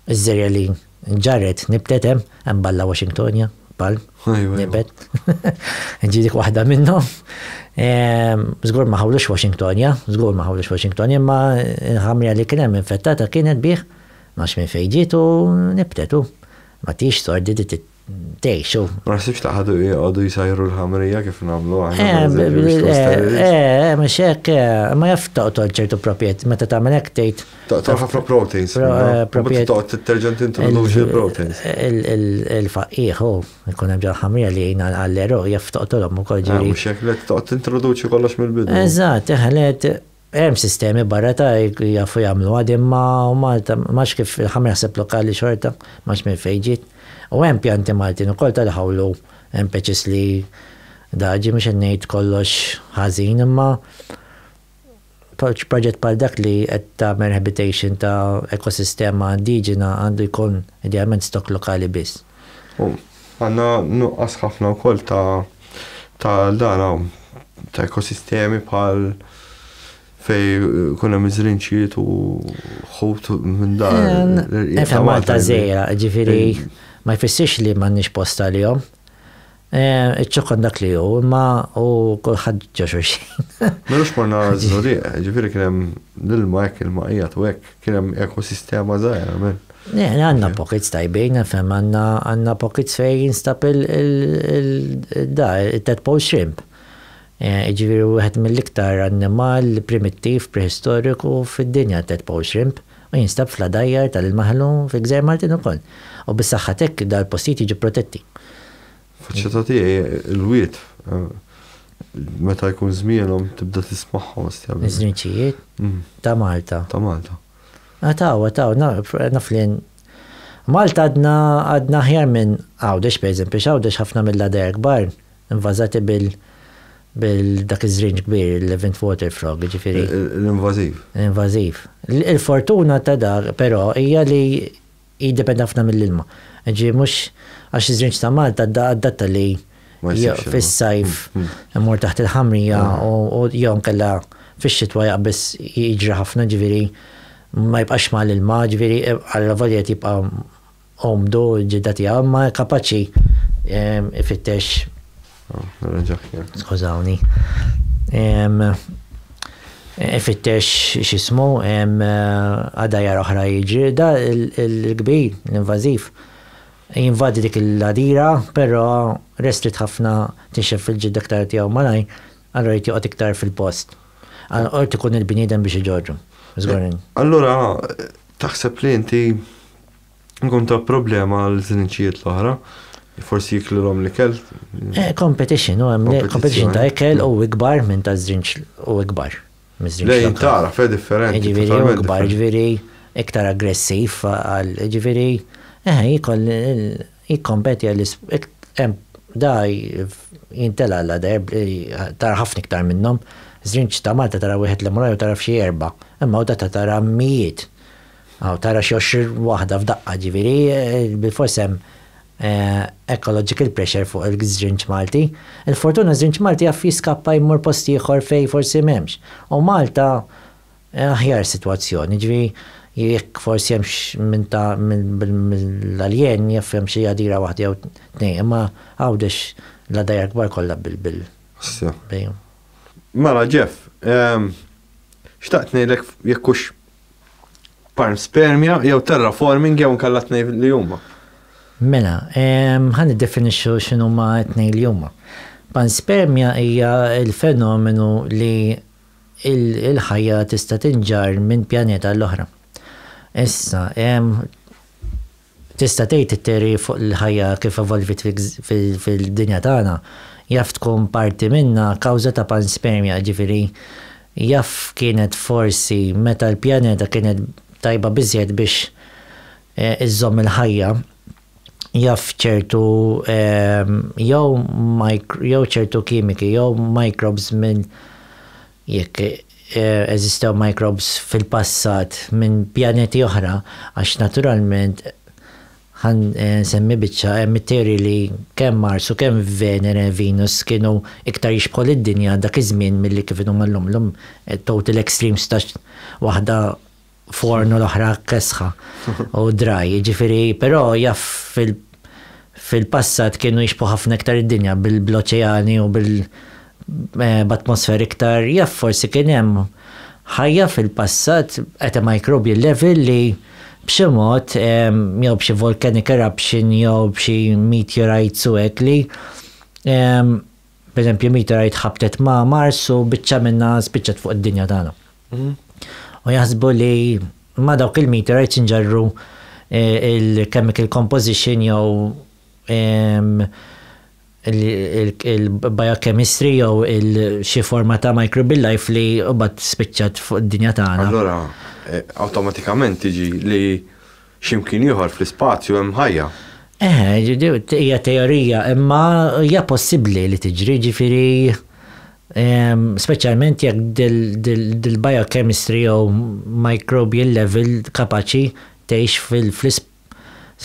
ż-żerja li nġarret nibtet hemm, hemm Balla Washingtonia, ball, nibet. Ġi dik waħda minnhom. Żgur ehm, ma ħawlux Washingtonia, żgur ma ħawlux Washingtonia, imma l-ħamrija li kien hemm infettata kienet bih, ma minn fejn ġiet u nibtetu. Ma tix sordi tgħixu. Ma naħsibx taħadu jgħodu jsajru l-ħamrija kif nagħmlu aħna. Eh, mhux eh, eh, hekk, ma jaf toqtol ċertu proprjet, meta tagħmel hekk tgħid. Toqtol ħafna proteins. Proprjet toqgħod titterġa tintroduċi l-proteins. Il-faqqiħ hu jkun hemm ġol-ħamrija li jgħin għall-eru jaf toqtolhom ukoll ġiri. Mhux hekk li toqgħod tintroduċi kollox mill-bidu. Eżatt, eħlet Hemm sistemi barra ta' hekk li jafu jagħmluha din ma' Malta m'għadx kif il-ħamra jaħseb lokali xorta m'għadx minn fejn ġiet. U hemm pjanti Maltin ukoll ta' l-ħawlu hemm peċis li daġi mhux qed ngħid kollox ħażin imma proġett bħal dak li qed tagħmel rehabilitation ta' ekosistema indiġena għandu jkun idealment stock lokali biss. U għandna nuqqas ħafna wkoll ta' ta' dan hawn ta' ekosistemi bħal fej kun hemm iż-żrinċiet u ħut minn dan. Eta Malta żejra, ġifieri ma jfissirx li m'għandniex post għalihom. Iċ-ċokon dak li hu, imma u kulħadd ġo xulxin. M'għandux morna żurieq, ġifieri kien hemm l-ilma hekk ilma qiegħed u hekk, kien hemm ekosistema żgħira minn. Għandna pockets tajbin, fhemm, għandna pockets fejn jinstab il-da, it-tadpole shrimp. Jiġifieri hu wieħed mill-iktar annimal primittiv preħistoriku fid-dinja t-tadpole shrimp u jinstab fl-għadajjar tal-ilma ħelu fil-Gżejjer Maltin ukoll. U bis-saħħa t'hekk dal-postijiet jiġu protetti. Faċċata tiegħi l-wied meta jkun żmienhom tibda tismagħhom istjabbi. Iż-żrinċijiet ta' Malta. Ta' Malta. Taw, taw, naf li Malta għadna aħjar minn Għawdex pereżempju, x'Għawdex ħafna mill-għadajjar kbar Invażati bil bil dak iż-żrinġ kbir, il-Levant Water Frog, jiġifieri. L-invażiv. L-invażiv. Il-fortuna ta' dak, però, hija li jiddependi ħafna mill-ilma. Jiġifieri mhux għax iż-żrinġ ta' Malta adatta li fis-sajf imur taħt il-ħamrija u jew inkella fix-xitwa jaqbeż jiġri ħafna, jiġifieri ma jibqax mal-ilma, jiġifieri allavolja qed jibqa' Omdu, il-ġidda tiegħu, imma kapaċi ifittex. Skużawni. Ifittex x'ismu, għadajjar oħra jiġri. Da l-kbir, l-invażiv, jinvadi dik il-għadira, però restrit ħafna tinxef fil-ġidda aktar tiegħu malajr, allura jrid joqgħod iktar fil-post. Allura jrid ikun il-bniedem biex iġorru. Żgur. Allura taħseb li inti Ikun ta' problema għal żniċijiet l-oħra, forsi jiklilhom l-ikel. Eh, competition, u hemm competition ta' ikel u ikbar minn ta' żrinċ u ikbar. Lejn tara, fe differenti. Ġifieri u ikbar, ġifieri iktar aggressiv għal ġifieri eh jikoll jikkompeti għal hemm da jintela għal darb tara ħafna iktar minnhom. Żrinċ ta' Malta tara wieħed li mraj u tara f'xi erba', imma u da tara mijiet. Aw tara xi għoxrin waħda f'daqqa ġifieri bilfors hemm ecological pressure fuq il-żrinġ Malti. Il-fortuna ż-żrinġ Malti jaf jiskappa jmur post ieħor fejn forsi m'hemmx. U Malta aħjar sitwazzjoni, jiġifieri jekk forsi hemm x'minn ta' mill-aljien jaf hemm xi għadira waħda jew tnejn imma Għawdex l-għadajjar kbar kollha bil. Mela Jeff, xtaqt ngħidlek jekk hux Panspermia jew terraforming jew inkella tnejn li huma. Mela, ħa niddefinixxu x'inhuma t-tnejn li huma. Panspermia hija l-fenomenu li l-ħajja tista' tinġarr minn pjaneta għall-oħra. Issa, Tista' tgħid it-teoriji fuq il-ħajja kif evolviet fid-dinja tagħna, jaf tkun parti minnha kawża ta' panspermja, jiġifieri jaf kienet forsi meta l-pjaneta kienet tajba biżżejjed biex iżżomm il-ħajja, jaf ċertu jew jew ċertu kimiki jew microbes minn jekk eżistew microbes fil-passat minn pjaneti oħra, għax naturalment, ħa nsemmi biċċa, hemm it-teoriji li kemm Mars u kemm Venere, Venus, kienu iktar jixbħu lid-Dinja dak iż-żmien milli kif inhuma llum. Llum total extremes ta' waħda forn u l-oħra kesħa u draj, ġifiri, però jaff fil-passat kienu jixbu ħafna iktar id-dinja bil-oċeani u bil-atmosfer eh, iktar jaff forsi kien hemm ħajja fil-passat qed microbial level li b'xi mod eh, jew b'xi volcanic eruption jew b'xi meteorites u hekk li eh, B'eżempju, Mitra jitħabtet ma' Mars u biċċa minnha spiċċat fuq id-dinja tagħna. U jaħsbu li ma' dawk il-meteorites inġarru il-chemical composition jew il-biochemistry jew xi forma ta' microbial life li mbagħad spiċċat fuq id-dinja tagħna. Allura, awtomatikament tiġi li Xi mkien ieħor fl-ispazju hemm ħajja? Eħe, ġifieri hija teorija, imma hija possibbli li tiġri, ġifieri speċjalment jekk dil-biochemistry jew microbial level kapaċi tgħix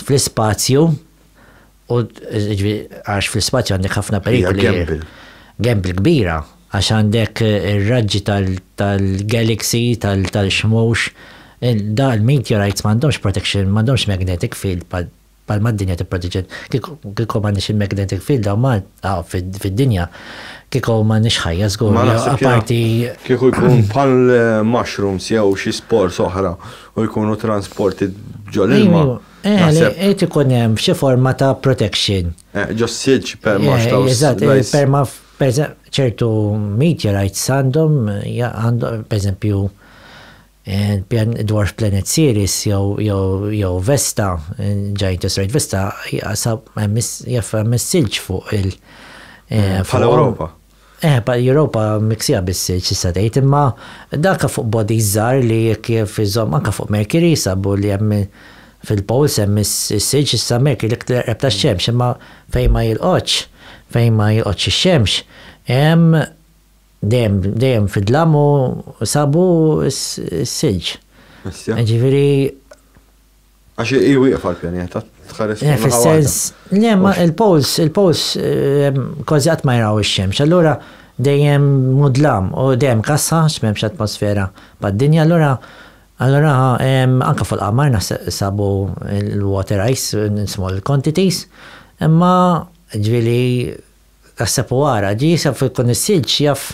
fl-ispazju U għax fl-ispazju għandek ħafna perikoli. Hija gamble. Gamble kbira għax għandek ir-raġġi tal-galaxy, tal-xmux. Da l-meteorites m'għandhomx protection, m'għandhomx magnetic field bħal mad-dinja tipproteġi. Kieku ma nix il-magnetic field daw ma fid-dinja, kieku ma nix ħajja żgur. Apparti. Kieku jkun bħal mushrooms jew xi spors oħra u jkunu transporti ġol-ilma. Naħseb. Irid ikun hemm xi forma ta' protection. Ġos silġ perma xtaw. Eżatt, perma ċertu meteorites għandhom, per eżempju, dwarf planet Sirius jew Vesta, ġajnt is-srajt Vesta, jaf hemm is-silġ fuq il-. Bħal Ewropa. Eh, pa l-Europa miksija bis-silġ tista' tgħid, imma danka fuq bodies żgħar li jekk jaf iżomm anke fuq Mercury sabu li hemm fil-poles hemm is-silġ issa Mercury l-iktar qreb tax-xemx imma fejn ma jilqgħodx, fejn ma jilqgħodx ix-xemx hemm dejjem dejjem fid-dlam u sabu s-silġ. Jiġifieri Għax hi wieqfa l-pjaneta, tħares eh, Fis-sens, le, ma il-pols, il-pols eh, kważi qatt ma jraw ix-xemx, allura dejjem mudlam u dejjem kassa x'memx atmosfera bad-dinja, allura allura anke fuq qamar naħseb sabu l-water ice small quantities, imma ġvili naħseb u għara, ġi jisab fil-kun is-silġ jaf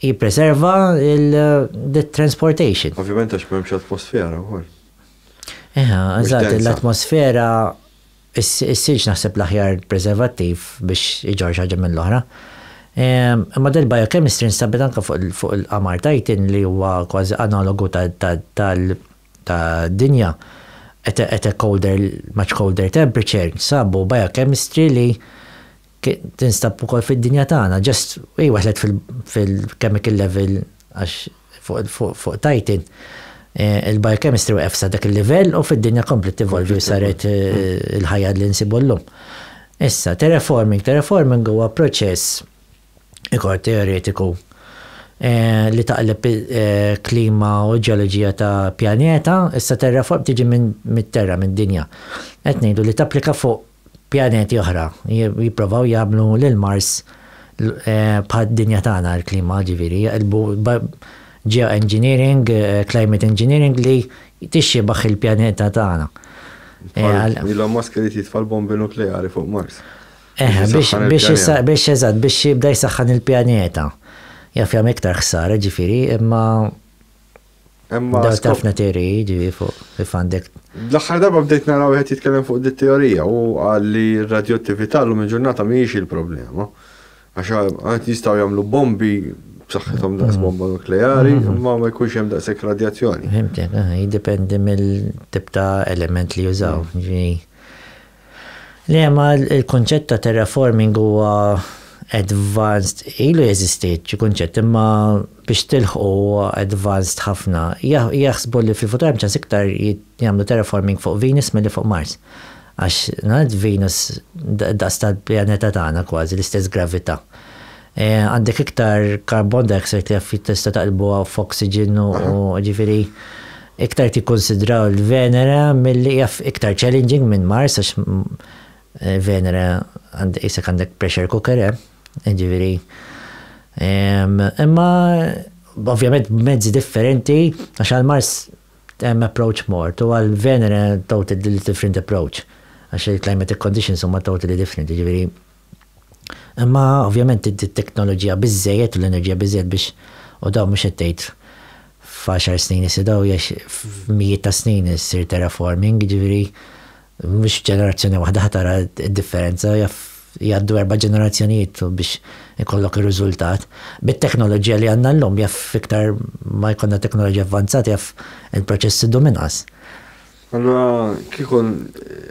Jippreserva l-transportation. Ovvjament għax m'hemmx atmosfera wkoll. Eħe, eżatt, l-atmosfera issirx naħseb l-aħjar preservattiv biex iġorx ħaġa mill-oħra. Imma del biochemistry nstabet anke fuq il-qamar tajtin li huwa kważi analogu tad-dinja at a colder, much colder temperature, sabu biochemistry li Tinstab ukoll fid-dinja tagħna, just hi waħlet fil-chemical level għax fuq Titan il-biochemistry waqgħet sa dak il-livell u fid-dinja kompliet tevolvi u saret il-ħajja li nsibu llum. Issa, terraforming, terraforming huwa proċess ikor teoretiku li taqleb klima u ġeoloġija ta' pjaneta, issa terraform tiġi mit-terra, mid-dinja. Qed ngħidu li tapplika fuq pjaneti oħra, jipprovaw jagħmlu lil Mars bħad-dinja tagħna, l-klima ġifieri, jaqilbu geo-engineering, climate engineering li tixxibaħ il-pjaneta tagħna. Elon Musk irid jitfa' l-bombi nukleari fuq Mars. Biex eżatt, biex jibda jsaħħan il-pjaneta. Jaf jagħmel iktar ħsara ġifieri, imma Imma tafna teoriji ġivi fuq kif għandek. L-aħħar darba bdejt naraw wieħed jitkellem fuq dit teorija u qal li r-radjottività llum il-ġurnata mhijiex il-problema. Għax għad jistgħu jagħmlu bombi b'saħħithom daqs bomba nukleari, imma ma jkunx hemm daqshekk radjazzjoni. Fhimtek, jiddependi mill-tip ta' element li jużaw. Liema l-kunċett ta' terraforming huwa advanced, ilu jeżisti xi kunċett imma biex tilħqu huwa advanced ħafna. Jaħsbu li fil-futur hemm ċans iktar jagħmlu terraforming fuq Venus milli fuq Mars. Għax, nagħlad Venus daqs tal-pjaneta tagħna kważi, l-istess gravità. Għandek iktar carbon dioxide kif tista' taqlbuha f'oxygen u ġifieri iktar tikkunsidraw il-Venera milli hija iktar challenging minn Mars għax Venera għandek qisek għandek pressure cooker hemm. Ġifieri imma ovvjament b'mezzi differenti għax għal Mars hemm approach mort u għal Venera totally different approach għax il-climatic conditions huma totally different ġifieri Imma ovvjament inti t-teknoloġija biżżejjed u l-enerġija biżżejjed biex u dawn mhux qed tgħid f'għaxar snin issir dawn jgħix f'mijiet ta' snin issir terraforming, jiġifieri mhux f'ġenerazzjoni waħda ħa tara d-differenza jaf jgħaddu erba' ġenerazzjonijiet biex ikollok ir-riżultat. Bit-teknoloġija li għandna llum jaf iktar ma jkollna teknoloġija avvanzata jaf il-proċess idum inqas. Allura kieku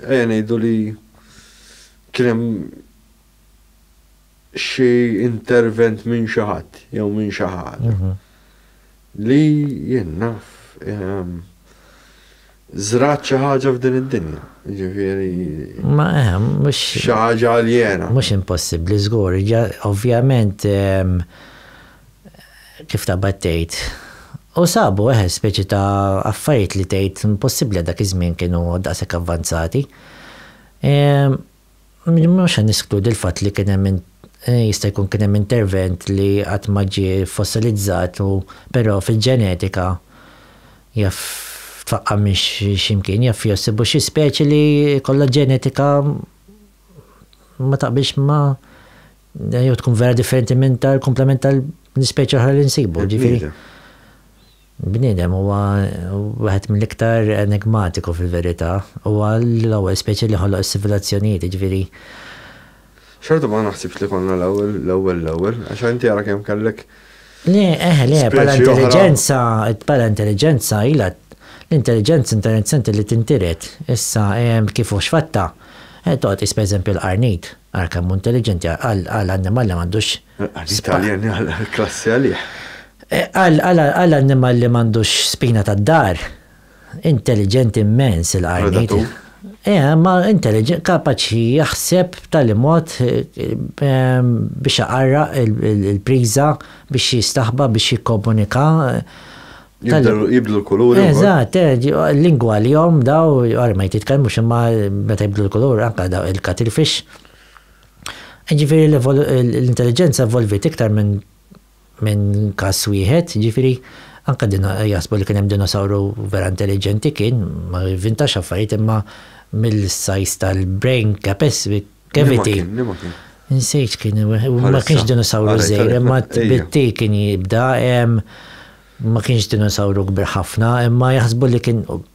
ejja ngħidu li Kien hemm xi intervent minn xi ħadd jew minn xi ħaġa li jien naf żrat xi ħaġa f'din id-dinja. Jiġifieri. Ma hemm mhux. Xi ħaġa aljena. Mhux impossibbli żgur, ovvjament kif ta' battejt. U sabu eħe eh, speċi ta' affarijiet li tgħid impossibbli dak iż-żmien kienu daqshekk avvanzati. Mhux se neskludi l-fatt li kien hemm jista' jkun kien hemm intervent li qatt ma ġie fossilizzat u però fil-ġenetika jaf tfaqqa' minn xi mkien, jaf jsibu xi speċi li jkollha ġenetika ma taqbilx ma' jew tkun vera differenti minn tal-kumplament tal-ispeċi l-oħra li nsibu, ġifieri. Bniedem huwa wieħed mill-iktar enigmatiku fil-verità. Huwa l-ewwel speċi li ħoloq is-sivilazzjonijiet, jiġifieri. Xorta ma naħsibx li konna l-ewwel, l-ewwel, l-ewwel, għax inti ara kemm kellek. Le, eħe, le, bħala intelliġenza, bħala intelliġenza ilha l-intelliġenza intelliġenti li tintiret. Issa, kif hu x'fatta, toqgħod tqis pereżempju l-qarnid, ara kemm hu intelliġenti għal annimal li m'għandux L-Italjan għal klassi għalih. Għal annimal li m'għandux spina tad-dar, intelliġenti immens il-qarniet. Eh, ma intelliġenti, kapaċi jaħseb tal mod ehm, biex aqarra il-priża, biex jistaħba, biex jikkomunika. Jibdlu l-kulur. Eżatt, eh, lingwa li jom daw, għar ma jtitkellmux imma meta jibdlu l-kulur, anka daw il-katilfix. Jiġifieri l-intelliġenza evolviet iktar minn minn każ wieħed, jiġifieri anke jaħsbu li kien hemm dinosawru vera intelliġenti kien, ma jivvintax affarijiet imma mill-sajż tal-brain capacity cavity. Insejt kien ma kienx dinosawru żgħir imma t-tbitti kien jibda, ma kienx dinosawru kbir ħafna imma jaħsbu li kien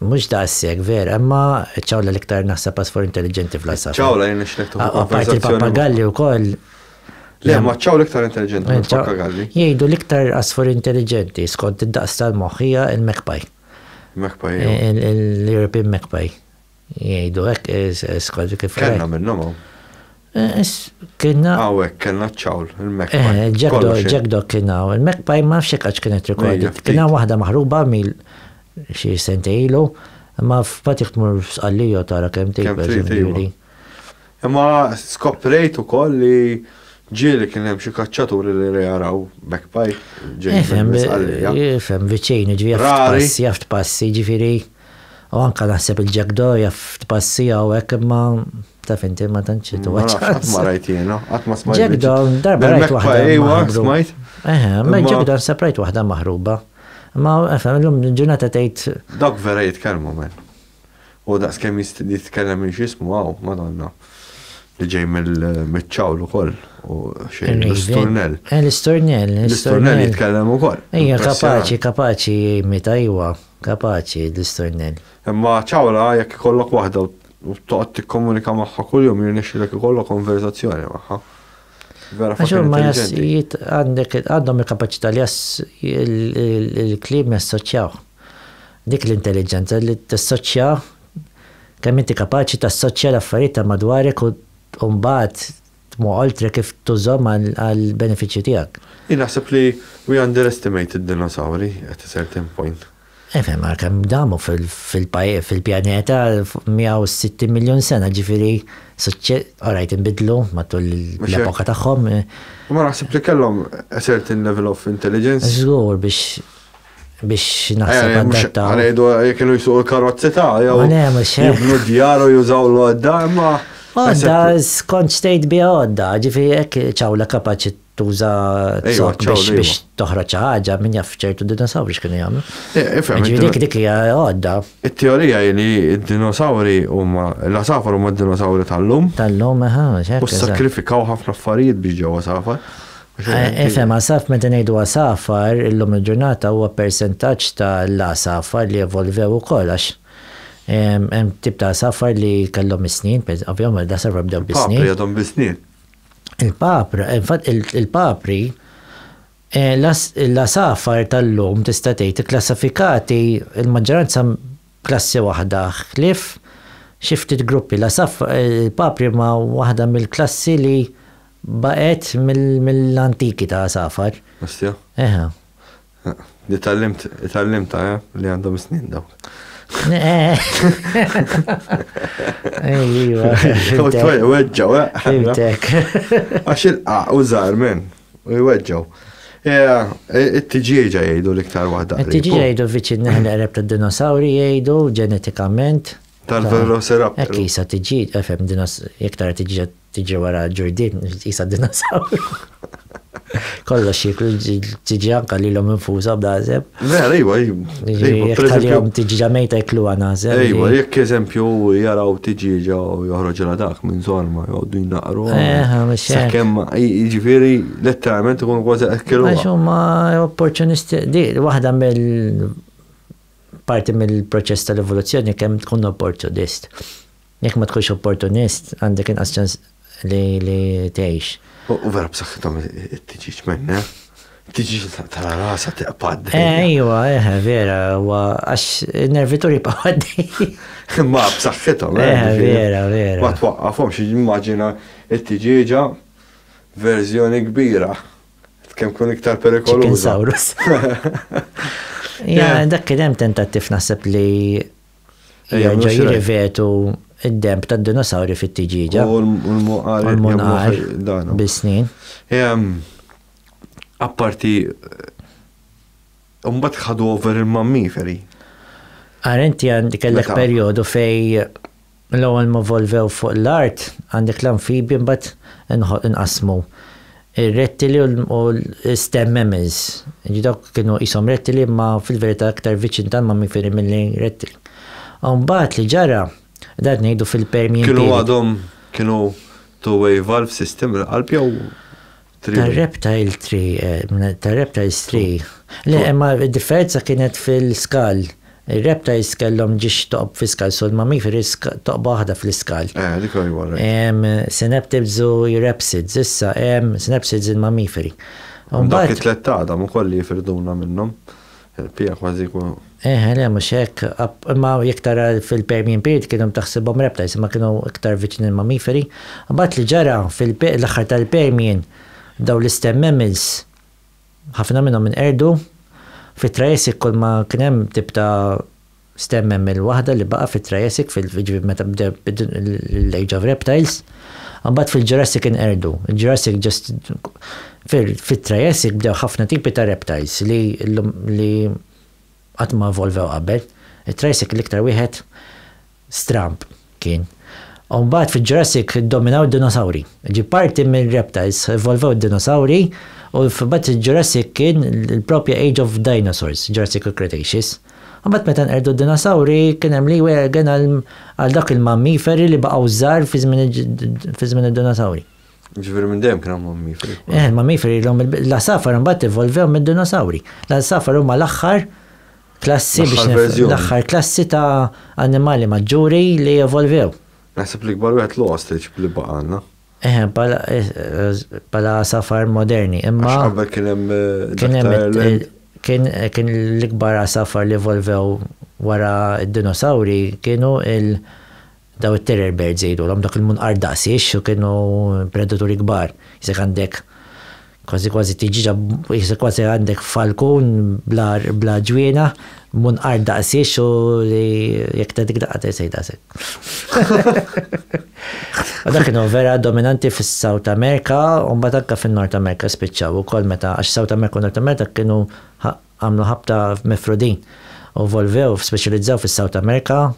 Mhux daqshekk, vera, imma ċ-ċawla l-iktar naħseb għas for intelliġenti fl-għasafar. Ċawla jien nixtieq tuħu Apparti l-pappagalli wkoll. Le, ma ċawla iktar intelliġenti minn pappagalli. Jgħidu l-iktar għasfur intelliġenti skont id-daqs tal-moħħ hija l-magpie. Magpie. L-European magpie. Jgħidu hekk skont kif. Kellna minnhom. Kienna. Għawek, kellna ċawl, il-Magpie. Eh, Jack Dog kienna, il-Magpie ma nafx għax kienet rekordit. Mela, kienna wahda maħruba mil xie sentejlu, ma f'patiħ tmur f'sqallija tara kem tejb. Iva. Imma skoprejt u koll li ġieli kien hemm xi kaċċaturi li jaraw backpipe ġejjin. Ifhem viċin, ġifieri passi, jaft passi, ġifieri. U anka naħseb il-Jack Doria f'tpassi hawnhekk imma taf inti ma tantx Ma tuwa nafx, qatt ma rajt jiena, qatt ma smajt. Jack Down, darba Del rajt Magpie, waħda ejwa, maħruba. smajt. Eħe, ma Imma- Jack Down seprajt waħda maħruba. Ma efhem illum il-ġurnata tgħid Dawk vera jitkellmu men. U daqs kemm jist- jitkellem minn x'ismu hawn, Madonna. Li ġej mill- miċ-ċawl ukoll. U xejn l-isturnell. Eh, l-isturnell, L-isturnell l-isturnell. jitkellem ukoll. Ejja, Impressjonanti. kapaċi, kapaċi jimita, ejwa. Kapaċi, Destroy Nell. Imma ċawra jekk ikollok waħda u toqgħod tikkomunika magħha kuljum jirnexxilek ikollok konverżazzjoni magħha. Vera Għax fucking huma jass- intelligenti. jit- għandek għandhom il-kapaċità li jass il- il- il-kliem jassoċjaw. Dik l-intelliġenza li tassoċja kemm inti kapaċi tassoċja l-affarijiet ta' madwarek u u mbagħad Tmu oltre kif tużhom għall-benefiċċju tiegħek. Jien naħseb li we underestimate id-dinosawri at a certain point. Ifhem, għal kemm damu fil-pjaneta fuq 160 miljun sena, ġifieri orajt inbidlu matul l-epoka tagħhom. Imma naħseb li kellhom a certain level of intelligence. Żgur biex biex naħseb eh, għaddatta. Għalajdu jek ilu jisuq il-karozzi ta' jew. Jibnu djaru jużaw l-għodda, imma. Għodda, skont stejt bi għodda, ġifi jek ċawla kapaċi tuża t-sok biex toħroċ ħaġa minn jaff ċertu dinosawri x'kienu jagħmlu. Eh, eh, ġifi dik dik hija għodda. It-teorija li d-dinosawri huma l-asafar huma d-dinosawri tal-lum. Tal-lum, eħa, ċertu. U sakrifikaw ħafna affarijiet biex ġewwa safar. Ifhem, għasaf, meta ngħidu għasafar, illum il-ġurnata huwa persentaġġ ta' l-għasafar li evolvew ukoll għax hemm tip ta' għasafar li kellhom is-snien, ovvjament l-għasafar bdew bis-snien. Il-papri għadhom bis-snien. Il-papri, infatti il-papri, l-għasafar tal-lum tista' tgħid ikklassifikati l-maġġoranza klassi waħda ħlief xi ftit gruppi. Il-papri huma waħda mill-klassi li Baqgħet mill-antiki ta' għasafar. Ostia. Eħe. Di tgħallimt, tgħallimtha, eh, li għandhom is-snien dawk. Ejjiva. Weġġaw, eh. Fimtek. Għax il-qa u żgħar minn, u jweġġaw. It-tiġieġa jgħidu l-iktar waħda. It-tiġieġa jgħidu viċin neħna qreb tad-dinosawri jgħidu ġenetikament. Tal-velociraptor. Ekkisa tiġieġ, efem, iktar tiġieġa Tiġri wara l-ġurdien tqisha dinasawr. Kollox jieklu tiġi anka li l-om infusa b'dażeb. Vera, iwa, iwa. Tiġiġa mejta jeklu għanażeb. Iwa, jekk eżempju jaraw tiġiġa u joħroġ la dak minn zorma, jgħoddu jnaqru. Eħa, mux. Sakem, ġifiri, letteralment ikun kważi ekkilu. Għax huma opportunisti, di, waħda mill parti mill-proċess tal-evoluzzjoni kemm tkun opportunist. Jekk ma tkunx opportunist, għandek inqas ċans li li tgħix. U vera b'saħħithom it-tiġiġ menne. Tiġiġ tara rasa teqpad. Ejwa, eh, eh, vera, għax nervituri paħaddi. Ma b'saħħithom, eh, eh. Vera, vera. Ma twaqqafhom xi immaġina it-tiġiġa verżjoni kbira. Kemm kun iktar perikoluża. Ja, dak kien hemm tentattiv naħseb li Jerġgħu jirrivetu id-demb tad-dinosawri fit-tiġieġa. U l-munqar. U l-munqar. Bis-snin. Apparti. Mbagħad ħadu over il-mammiferi. Għar inti għandi kellek perjodu fej l-ewwel ma volvew fuq l-art għandek l-amfibi mbagħad inqasmu Ir-rettili u l-stem mammals. Jiġifieri dawk kienu qishom rettili imma fil-verità aktar viċin tal-mammiferi milli rettili. U mbagħad li ġara, dan qed ngħidu fil-permien period. Kienu għadhom kienu two-way valve system il-qalb jew three-way? Tar-reptile three, tar-reptiles three. Le, imma d-differenza kienet fil-skull. Ir-rebta risk kellhom ġiex toqob fi skal sul ma' mif risk toqba waħda fl-iskal. Eh, dik hu jwar. Hemm synaptids u eurapsids, issa hemm synapsids il-mammiferi. Hemm dawk it-tlett t'Adam ukoll li jifrduna minnhom. Il-pija kważi jkunu. Eħe, le mhux hekk. Imma jekk tara fil-Permian Period kienu taħsibhom reptiles imma kienu iktar viċin il-mammiferi. Imbagħad li ġara fil-aħħar tal-Permian dawn l-istem mammals Ħafna minnhom inqerdu. Fit-Triassic kull ma kien hemm tip ta' stem mammal waħda li baqa' fit-Triassic fil jiġifieri meta bda l-Age of Reptiles. Imbagħad fil-Jurassic inqerdu. Il-Jurassic just fit-Triassic bdew ħafna tipi ta' reptiles li llum li Qatt ma evolvew qabel. It-Triassic l-iktar wieħed stramb kien. U mbagħad fil-Jurassic iddominaw d-dinosawri. Ġie parti mir-Reptiles evolvew d-dinosawri u mbagħad il-Jurassic kien il-propja Age of Dinosaurs, Jurassic u Cretaceous. U mbagħad meta nqerdu d-dinosawri kien hemm leeway again għal dawk il-mammiferi li baqgħu żgħar fi żmien id-dinosawri. Ġveri minn dem kien hemm mammiferi. Eh, mammiferi l-om l-asafar mbagħad evolvew mid-dinosauri. L-asafar huma l-aħħar klassi biex l-aħħar klassi ta' annimali maġġuri li evolvew. Naħseb li kbar wieħed l-ostrich li baqanna. Eh, pala eh, eh, asafar moderni. Imma qabel kien hemm kien kien l-ikbar asafar li evolvew wara d-dinosauri kienu il- Dawn it-terror birds jgħidulhom, dawk il-munqar daqs ix u kienu predaturi kbar. Jisek għandek kważi kważi tiġiġa, jisek kważi għandek falkun bla ġwiena, munqar daqs ix u li jekk ta' dik daqqa ta' jsejda sek. U dak kienu vera dominanti fis-South America, u mbagħad anke fin-North America spiċċaw ukoll meta għax South America u North America kienu Għamlu ħabta f'Mifrudin u evolvew, speċjalizzaw fis-South America.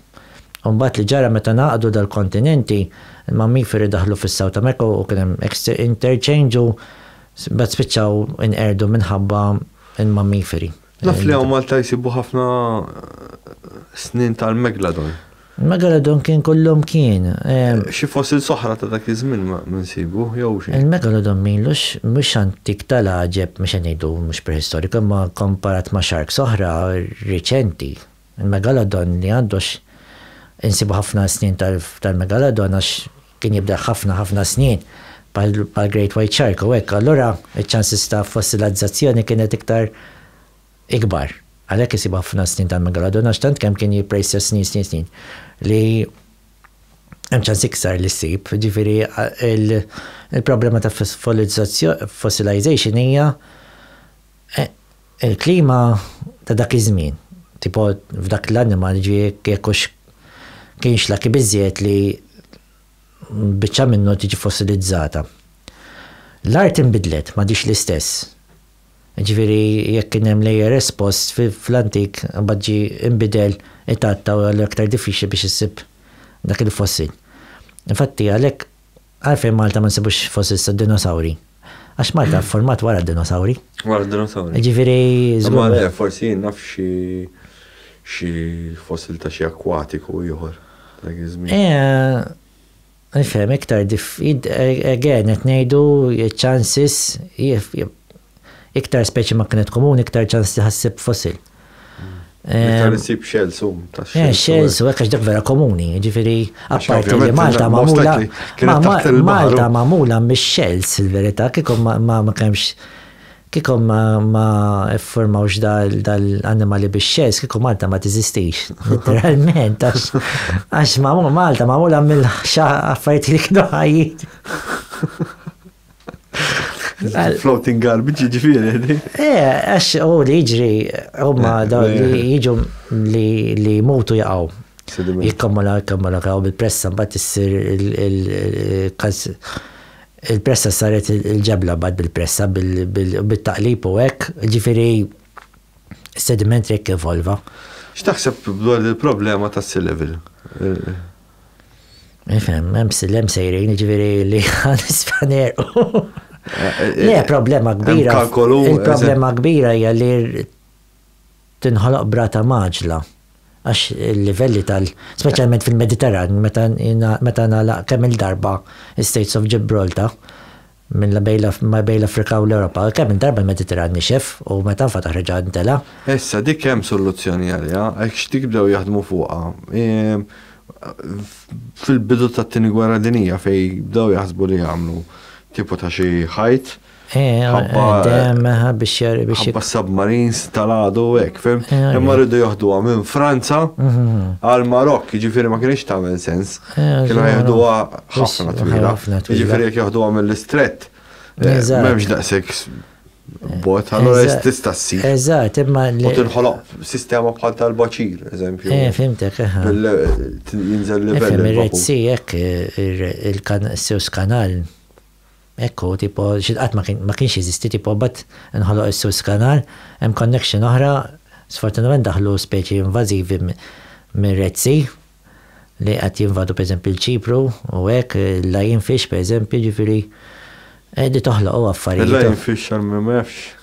U mbagħad li ġara meta ngħaqdu dal-kontinenti, il-mammiferi daħlu fis-South America u kien hemm interchange u mbagħad spiċċaw inqerdu minħabba l-mammiferi. Naf li hawn Malta jsibu ħafna snin tal-Megalodon. Il-megalodon kien kollhom kien. Xi fossils oħra ta' dak iż-żmien ma nsibu, jew xi. Il-megalodon m'ilux mhux antik tal-għaġeb, mhux se ngħidu mhux prehistoriku, imma kkomparat ma' sharks oħra riċenti. Il-megalodon li għandu għax insibu ħafna snien tal-megalodon għax kien jibdel ħafna ħafna snien bħall-great white shark u hekk, allura ċ-ċansis ta' fossilazzazzjoni kienet iktar ikbar. Għalhekk isibu ħafna snin tal-megalodon għax tant kemm kien jibqra jissir snin snin snin li hemm ċans iktar li ssib. Ġifieri il-problema ta' fossilization hija il-klima ta' dak iż-żmien. Tipo f'dak l-animal ġie jekk hux kienx lucky biżżejjed li biċċa minnu tiġi fossilizzata. L-art inbidlet, m'għadhiex l-istess. Jiġifieri jekk kien hemm l-ARS post fl-antik imbagħad ġie inbidel it-għatta u allura aktar diffiċli biex issib dak il-fossil. Infatti għalhekk għalfejn Malta ma nsibux fossils tad-dinosawri? Għax Malta fformat wara d-dinosawri. Wara d-dinosawri. Jiġifieri żgur. Imma le, forsi jien naf xi xi fossil ta' xi akwatiku ieħor ta' dak iż-żmien. Eh. Nifhem iktar dif, again qed ngħidu ċ-chances iktar speċi ma kienet komuni iktar ċans li ħassib fossil. Iktar issib shells u ta' shells. Eh, shells u hekk dak vera komuni, ġifieri apparti li Malta magħmula Malta magħmula mix-shells il-verità kieku ma kemx Kieku ma ffurmawx dal-annimali bix-xells, kieku Malta ma teżistix, literalment, għax Malta magħmula mill-affarijiet li kienu ħajjin. Floating garbage jiġifieri. Eh, għax u li jiġri huma eh, dawn li eh. jiġu li jmutu jaqgħu. Jikkammala, jikkammala, kaw bil-pressa, mbagħad issir il-każ Il-pressa saret il-ġebla mbagħad bil-pressa u bit-taqlib u hekk, jiġifieri s-sediment hekk evolva. X'taħseb dwar il-problema tas-sea level? Ifhem, hemm sea level sejrin, jiġifieri li għal isfaner. Le, problema kbira. Il-problema kbira hija li tinħoloq b'rata mgħaġġla għax il-livelli tal-, speċjalment fil-Mediterran, meta ngħalaq kemm-il darba l-Straits of Gibraltar minn bejn l-Afrika u l-Ewropa, kemm-il darba l-Mediterran nixef u meta nfetaħ reġa' ntelgħa. Issa dik hemm soluzzjoni għaliha, hekk x'dik bdew jaħdmu fuqha fil-bidu tat-Tieni Gwerra Dinjija fejn bdew jaħsbu li jagħmlu tipu ta' xi ħajt, Eh, Ħabba- eh, dem, eh, biex jar- biex jik- Ħabba submarines tal-għadu u hekk, fim? Eh, Imma għalli. rridu joħduha minn Franza għal Marokk, ġifieri ma kienx tagħmel sens. Mhm. Eh, Kienu ġara. jieħduha ħafna Wis- twila. ħafna twila. Ġifieri jekk joħduha mill-istrett. eh, Eżatt. M'hemmx daqshekk s- bot, allora Eżatt. tista' ssir. Eżatt, imma U li. tinħoloq sistema bħal tal-baċir, eżempju. Eh, fimtek, eh. Bil- t- Jinżel livell. Fim, il-Red il-vakum. Sea, jekk il-Suez Kanal, Hekk hu, tipo, xi qatt ma kienx jeżisti, tipo, imbagħad inħoloq is-Suez Canal, hemm connection oħra, sfortunatament daħlu speċi invażivi mir-Red Sea li qed jinvadu pereżempju l-Ċipru u hekk, il-lionfish pereżempju, jiġifieri qegħdi toħloq u affarijiet. Il-lionfish għal min ma jafx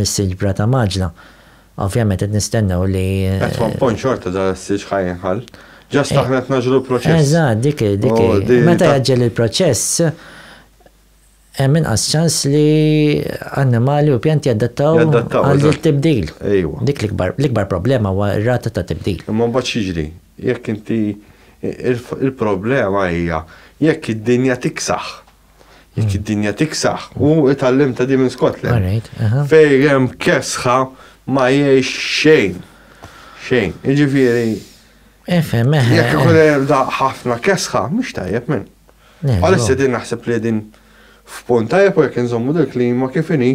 Is-silġ b'rata mgħaġġla. Ovvjament qed nistennew li. At one point xorta dan is-silġ ħa jinħall. Just aħna qed ngħaġġlu l-proċess. Eżatt, dik hi, dik hi. Meta jgħaġġel il-proċess, hemm inqas ċans li annimali u pjanti jadattaw għal dik tibdil. Ejwa. Dik l-ikbar problema huwa r-rata ta' tibdil. Imma mbagħad x'jiġri? Jekk inti il-problema hija jekk id-dinja tiksaħ Jekk id-dinja tiksaħ, u itallim ta' di minn Scotland. Fejrem kesħa ma jiex xejn. Xejn. Iġifiri. Efem, eħe. Jekk ikun hemm da ħafna kesħa, mhux tajjeb minn. Għalissa din naħseb li din f'punt tajjeb u jekk inżommu dil-klima kif inhi.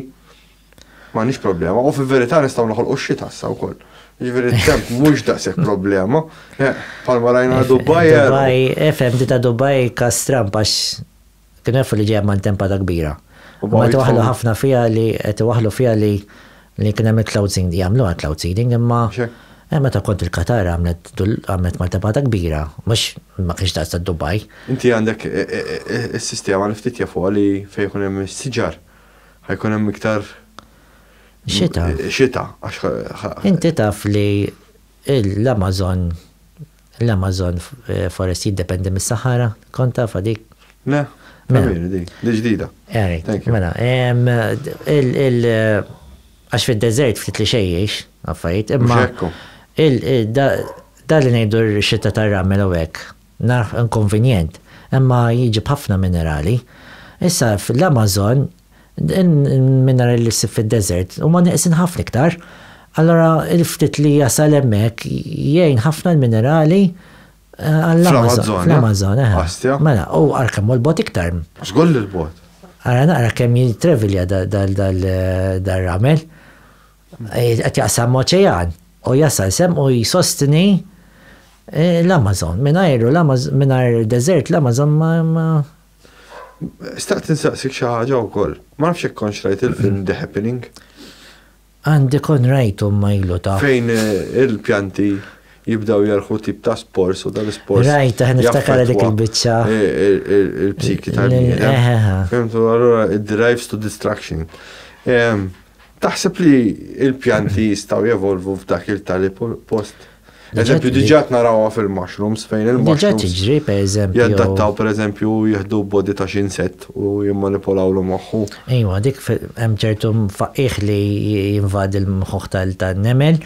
M'għandniex problema, u fil-verità nistgħu noħolqu x-xita issa wkoll. Jiġifieri t-temp mhux daqshekk problema. Eh, palma rajna Dubai. Eh. Dubai, efhem dita Dubai kas Trump għax kien jafu li ġejja mantempata kbira. Ma waħlu ħafna fiha li qed waħlu fiha li li kien hemm il-cloud seeding, jagħmlu għal cloud seeding imma Eh, meta kont il-Katar għamlet għamlet maltempata kbira, mux ma kienx daqsa Dubai. Inti għandek eh, eh, il-sistema li ftit jafu li fejkun hemm siġar. Ħajkun hemm iktar xita. Xita. Inti taf li l-Amazon l-Amazon eh, forest jiddependi mis-Sahara, kont taf dik? Le, mela. di, di ġdida. Erik, mela, għax fil-deżert ftit li xejjex, affarijiet, imma. Dal-li ngħidu xita tar-ramel u hekk. Naf inkonvinjent, imma jiġi b'ħafna minerali. Issa fl-Amazon il-minerali li ssib fid-deżert huma neqsin ħafna iktar. Allura il-ftit li jasal hemmhekk jgħin ħafna l-minerali għall-Amazon. Fl-Amazon, eħe. Mela, u ara kemm hu l-bogħod iktar. Żgur li l-bogħod. Ara naqra kemm jitravelja dal-ramel. Qed jaqsam oċean u jasal sem u jsostni eh, l-Amazon. Mingħajru l-Amazon, mingħajr deżert l-Amazon ma Staqt insaqsik xi ħaġa wkoll. Ma nafx jekk konx rajt il-film The Happening. Għandi kon rajtu ma ilu ta'. Fejn eh, il-pjanti jibdaw jarħu tip ta' spors u dal-spors. Rajt, eh, niftakar dik il-bicċa. Eh, Il-psiki tal-bniedem. Fimtu, allura, it drives to destruction. Ehm, Taħseb li l-pjanti jistgħu jevolvu f'dak il-tali post? Eżempju, diġat narawha fil-mushrooms fejn il-mushrooms. Diġat ġri, per eżempju. Jaddattaw, per eżempju, jihdu body ta' xinset u jimmanipolaw l moħħu. Ejwa, dik hemm ċertu faqqih li jinvadi l-moħħ tal-nemel.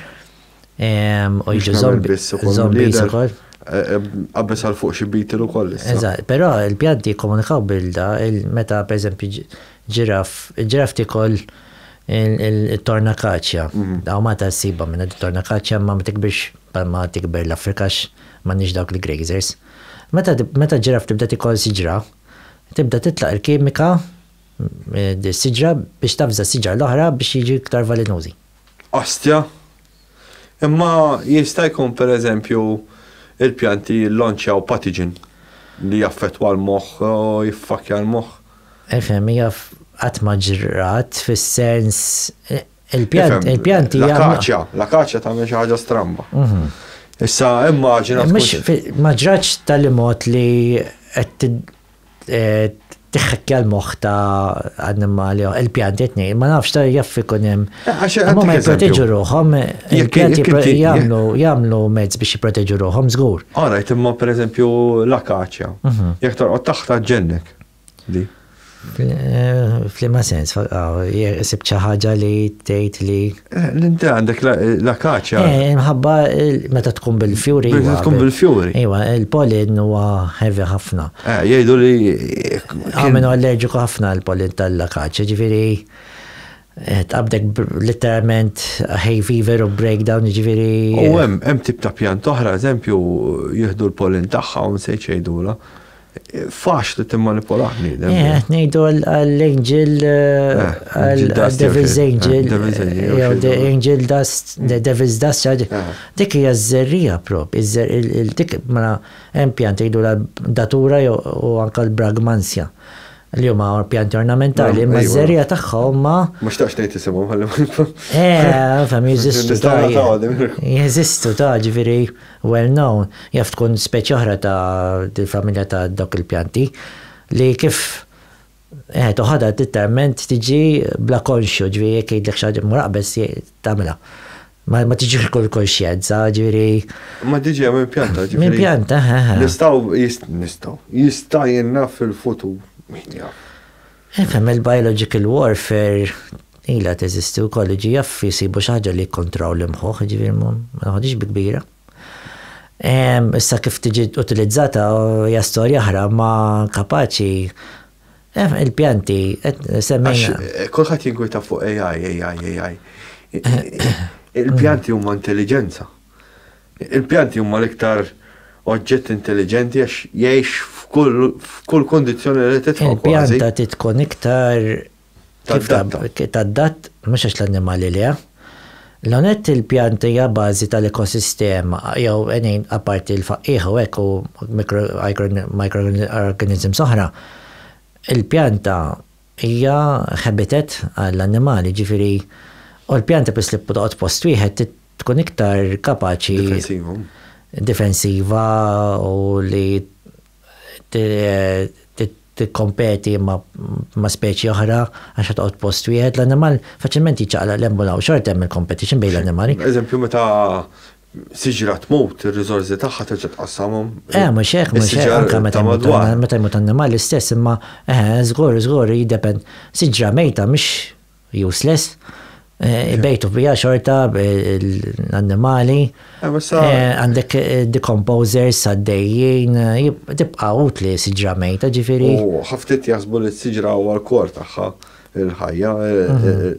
U jiġu zombies ukoll. Zombies ukoll. Qabbes għal fuq xi bitil ukoll. Eżatt, però il-pjanti jikkomunikaw bilda meta pereżempju ġiraf, il-ġiraf tikol il-torna kaċja. Daw ma ta' siba minna torna kaċja ma ma tikbirx ma tikber l-Afrikax ma nix dawk li grazers. Meta ġiraf tibda tikol siġra, tibda titlaq il-kimika, siġra biex tafza siġra l-oħra biex jiġi iktar valinużi. Astja. Imma jista' jkun pereżempju il-pjanti jillonċjaw patiġin li jaffettwa l-moħħ u jiffakkja l-moħħ. Ifhem, hija qatt ma ġrat fis-sens il-pjanti jagħmlu. L-akaċja, l-akaċja tagħmel xi ħaġa stramba. Issa immaġina. Mhux ma ġratx tal-imgħod li qed tiħħekkja l-moħħ ta' annimali, il-pjanti tnej, ma nafx ta' jaff ikun hemm. Eh, eh, ma jipproteġu ruħhom, il-pjanti jagħmlu jagħmlu mezz biex jipproteġu ruħhom żgur. Alright, imma pereżempju l-akaċja, mhm. jekk torqod taħta ġennek. Eh, Flima sens, ah, sib ħaġa li tgħid li Eh, l-inti għandek la kaċa. Eh, mħabba meta tkun bil-fjuri. Meta tkun bil-fjuri. Iwa, il-polin huwa heavy ħafna. Eh, jgħidu li. Għamenu ah, allerġiku ħafna l-polin tal-la kaċa, ġifiri. Eh, tqabdek literalment hay fever u breakdown ġifiri. U hemm hemm tip ta' pjan toħra, eżempju, jieħdu l-polin tagħha u nsejt xejdula. Faċli timmanipula bniedem. Eh, ngħidu għall-angel eh, għall-devil's eh, angel. Jew the angel dust, the devil's dust. Eh. Dik hija ż-żerrija prop, dik mela hemm pjant jgħidu datura jew u anke l-bragmansja li huma pjanti ornamentali, imma ż-żerrija tagħha huma. Ma xtaqx tgħid isimhom ħalli. Eh, fam jeżistu. Jeżistu ta' ġifieri. Well known, jaf tkun speċi oħra ta' dil-familja ta' dawk il-pjanti, li kif eħet u ħadha titterment tiġi bla konxju, ġifieri jekk jgħidlek xi ħaġa mur aqbeż tagħmilha. Ma ma tiġix kull konxjenza, ġifieri. Imma tiġi minn pjanta, ġifieri. Minn pjanta, eħe. Nistgħu, nistgħu, jista' jingħad fil-futur, min jaf. Ifhem, il-biological warfare ilha teżisti wkoll, jiġi jaffi jsibu xi ħaġa li jikkontraw l-imħuħ, jiġifieri ma naħodhiex bi kbira. Issa kif tiġi utilizzata hija storja oħra, ma kapaċi il-pjanti semmejna. Kulħadd jinkwita fuq AI, AI, AI. Il-pjanti huma intelliġenza. Il-pjanti huma l-iktar oġġett intelliġenti għax jgħix f'kull kundizzjoni li titfa' kważi. Il-pjanta trid tkun iktar kif tadatta mhux għax l-annimali le. L-ewwel nett il-pjanta hija bażi tal-ekosistema jew għenin apparti l-faqqiegħa u hekk u microorganisms oħra. Il-pjanta Hija habitat għall-annimali, jiġifieri u l-pjanta peress li toqgħod post wieħed tkun iktar kapaċi. Difensiva. Difensiva u li tikkompeti ma' speċi oħra għax qed toqgħod post wieħed. L-annimal faċilment jiċċaqlaq 'l hemm u 'l hawn, xorta hemm il-competition bejn l-annimali. Eżempju meta Siġra tmut, ir-riżorsi tagħha terġa' tqassamhom. Eh, mhux hekk, mhux hekk, anke meta jmut meta jmut annimal l-istess, imma eh, żgur, żgur, jiddepend. Siġra mejta mhix useless, ibejtu fiha xorta l-annimali. Għandek decomposers għaddejjin, tibqa' utli siġra mejta, ġifieri. U ħaftit jaħsbu li s-siġra huwa l-kor tagħha. il-ħajja,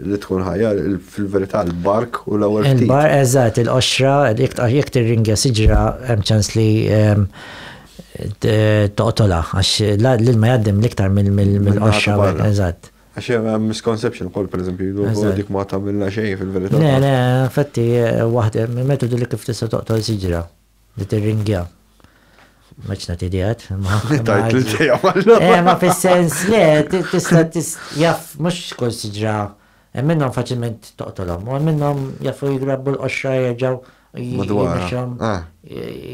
li tkun ħajja fil-verità l-bark u l-ewwel ftit. Il-bark, eżatt, il-qoxra, jekk tirringja siġra hemm ċans li toqtola, għax l-ilma jgħaddim l-iktar mill-qoxra, eżatt. Għax hemm misconception ukoll pereżempju, dik ma tagħmilna xejn fil-verità. Le, le, fatti waħda, metodu li kif tista' toqtol siġra. Nittirringjak. Maċ nagħti idejat. Tajt li ġejja eh, Ma fis-sens le, tista' jaf mhux kull siġra hemm minnhom faċilment toqtolhom, u hemm minnhom jafu jigrabbu l-qoxra jerġgħu jimxhom ah,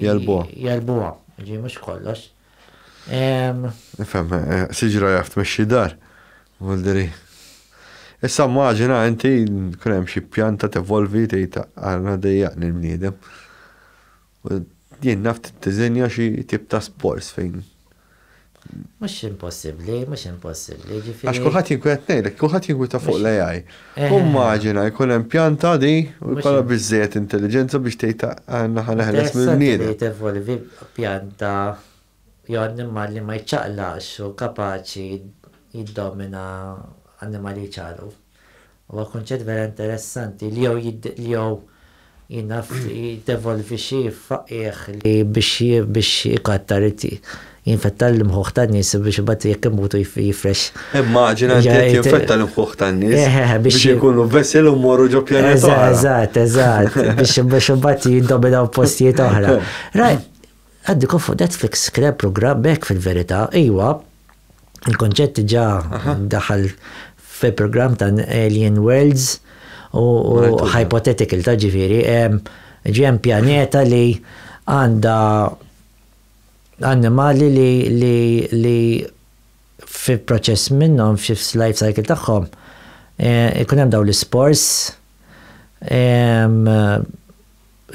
jalbuha. Jalbuha, ġi mhux kollox. Nifhem, eh, siġra jaf tmexxi dar. Muldiri. Issa maġina inti kun hemm xi pjanta tevolvi tgħid għalna dejjaqni l-bniedem. Jien naf tiżinja xi tip ta' sports fejn. Mhux impossibbli, mhux impossibbli. Għax kulħadd jinkwet ngħidlek, kulħadd jinkweta fuq l-AI. Immaġina jkun hemm pjanta di u jkollha biżżejjed intelliġenza biex tgħid aħna ħa neħles mill-bniedem. Interessanti li tevolvi pjanta jew annimal li ma jċaqlaqx u kapaċi jiddomina annimali li jċaqlqu. Huwa kunċett vera interessanti li jew jiddevolvi xi faqqiegħ li biex ikattar jinfetta l-imħuħ tan-nies u biex imbagħad jekk imutu jifrex. Immaġina li qed jinfetta l-imħuħ tan-nies eh, eh, eh, biex ikunu vessil u morru ġo pjaneta. Eżatt, eżatt, biex imbagħad jiddominaw postijiet oħra. Għandi konfond Netflix kien programm hekk fil-verità, iwa, il-konċett diġà daħal fil-programm ta' Alien Worlds u hypothetical ta' ġifieri, ġem pjaneta li għandha annimali li li fi proċess minnhom fi life cycle tagħhom ikun hemm dawn l-ispors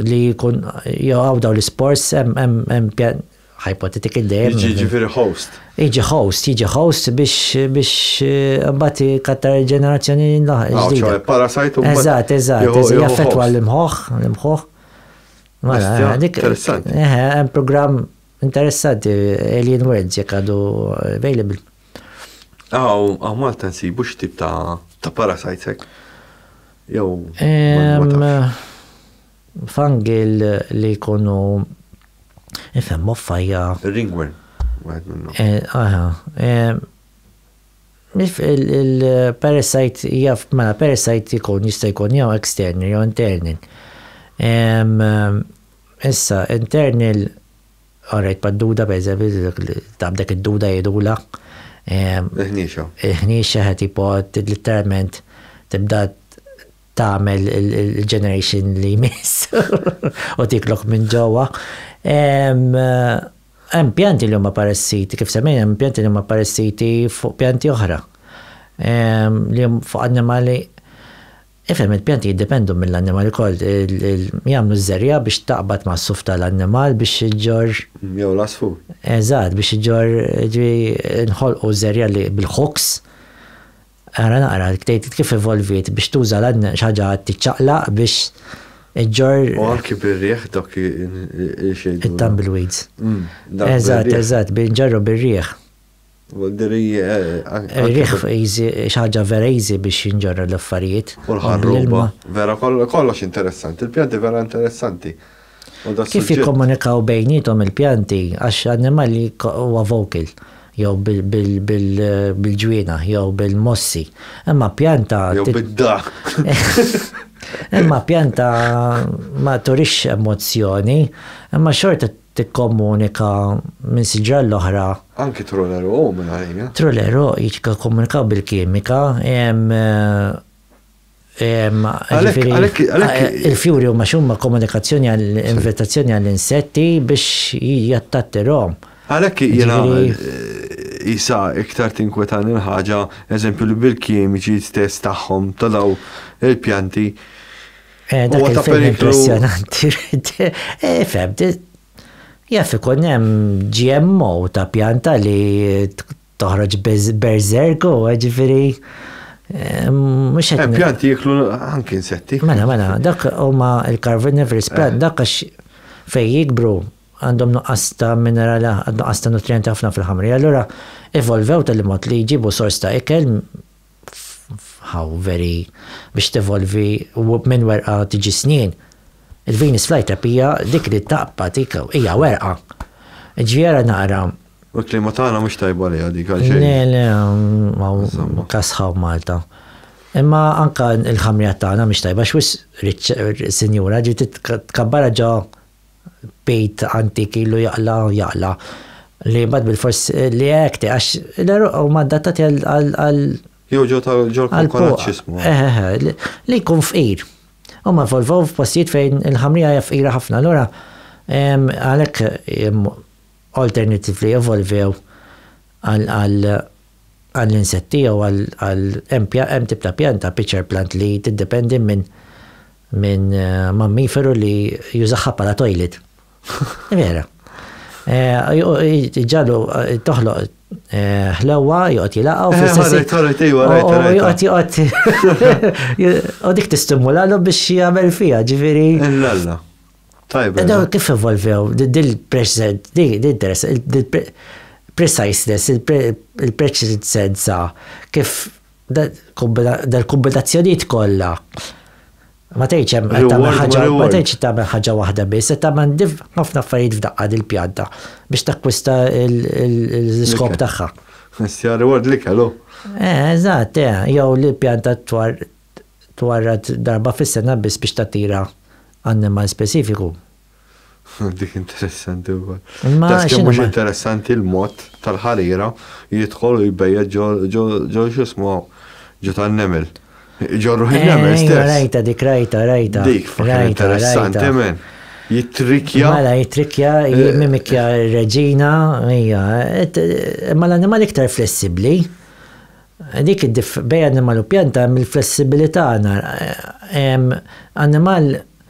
li jkun jgħaw daw l-sports hemm pjan hypothetical day. Jiġi ġifieri host. Jiġi host, jiġi host biex biex eh, mbagħad kattar il-ġenerazzjoni l-ġdida. Ah, parasajt u Eżatt, eżatt, jaffettwa l-imħoħ, l-imħoħ. Mela, eh, dik. Interessanti. Eh, hemm programm interessanti Alien Worlds jekk għadu available. Aw, aw Malta nsibu x'tip ta' ta' parasites hekk. Jew fangi li jkunu ifhem moffajja. Ringworm, wieħed minnhom. Eh, aha. Il-parasite jaf, mela parasite jkun jista' jkun jew external jew internal. Issa, internal Orrejt mad-duda, pereżempju, tgħammdek id-duda jgħidulha. Il-ħniexa. Il-ħniexa qed tipo litteralment tibda tagħmel il-generation li jmiss u tiklok minn ġewwa. Hemm pjanti li huma paressiti, kif semmejna hemm pjanti li huma paressiti fuq pjanti oħra. Li fuq annimali Ifhem, il-pjanti jiddependu mill-annimali wkoll, jagħmlu ż-żerriegħa biex taqbad mas-suf tal-annimal biex iġġorr. Jew l-għasfur. Eżatt, biex iġġorr, jiġifieri nħolqu ż-żerriegħa li bil-hooks, ara naqra, tgħid kif evolviet biex tuża xi ħaġa tiċċaqlaq biex iġġorr. U anki bir-riħ dawk il-xejn. It-tumbleweeds. Eżatt, eżatt, nġarru bir-riħ. Rih xaġa vera easy biex jinġorra l-affarijiet. U l-ħarruba. Vera kollox interessanti. Il-pjanti vera interessanti. Kif jikkomunikaw bejnietom il-pjanti għax annimali huwa vocal jew bil-ġwiena jew bil-mossi. Imma pjanta. Jew bid-daħk. Imma pjanta ma turix emozzjoni, imma xorta tikkomunika minn siġra l-oħra. Anki Trolero O minn għalija. Trolero jikkomunika bil-kimika, il-fjuri huma x'huma komunikazzjoni għal invitazzjoni għal insetti biex jattattirhom. Għalhekk jiena jisa iktar tinkwetani l-ħaġa, eżempju li bil-kimiċi stess tagħhom ta' daw il-pjanti Eh, dak il-film impressionanti. Eh, fem, jaff ikun hemm GMO ta' pjanta li toħroġ berzerku, ġifiri. Eh, mux għet. Pjanti jiklu anki insetti. Mela, mela, dak huma il-carnivorous plant, dak għax fej jikbru għandhom nuqqas ta' minerali, nuqqas ta' nutrienti ħafna fil-ħamri. Allura, evolvew tal-mod li jġibu sors ta' ikel how very biex tevolvi u minn werqa tiġi snien. Il-Venus flytrap hija dik li taqpa tik hija werqa. Ġiera naqra. U klima tagħna mhux tajba li dik għal xejn. Le, le, ma kasħaw Malta. Imma anka il-ħamrija tagħna mhux tajba x'wis sinjura ġi tkabbarha ġo bejt antik ilu jaqla u jaqla li mbagħad bilfors li hekk għax l-għeruq huma adattati għal Jew ġew tal-ġol-konkolaċċismu. Eh, eh, eh, li jkun fqir. Huma evolvow f'postijiet fejn il-ħamrija hija fqira ħafna, allura għalhekk alternatively evolvew għall-insetti jew għal hemm tip ta' pjanta, pitcher plant li tiddependi minn minn mammiferu li juża ħabba ta' toilet. Vera. Ġallu toħloq ħlewwa joqgħod jilaqgħu eh, fl-istess. U dik tistimulalu biex jagħmel fiha, ġifieri. Illalla. Tajba. Daw kif evolvew, dil-present, dil-interess, dil-preciseness, il-preċisenza, kif Dal-kombinazzjonijiet kollha ma tgħidx hemm qed tagħmel ħaġa ma tgħidx qed tagħmel ħaġa waħda biss, qed tagħmel ħafna affarijiet f'daqqa din il-pjanta biex takkwista l-iskop tagħha. Mistja reward l-ikel hu. Eh, eżatt, eh, jew li l-pjanta twarrad darba fis-sena biss biex tattira annimal speċifiku. Dik interessanti wkoll. Ma kemm mhux interessanti l-mod tal-ħarira jidħol u jbejja ġo xismu ġo tan-nemel. Ġorru ħin-nemel eh, stess. Rajta dik rajta rajta. Dik fakir interessanti men. Jitrikja. Mela jitrikja, eh, jimimikja eh. reġina, hija. Ma l-animal iktar flessibli. Dik id-dif bej animal u pjanta mill-flessibilità nar. Animal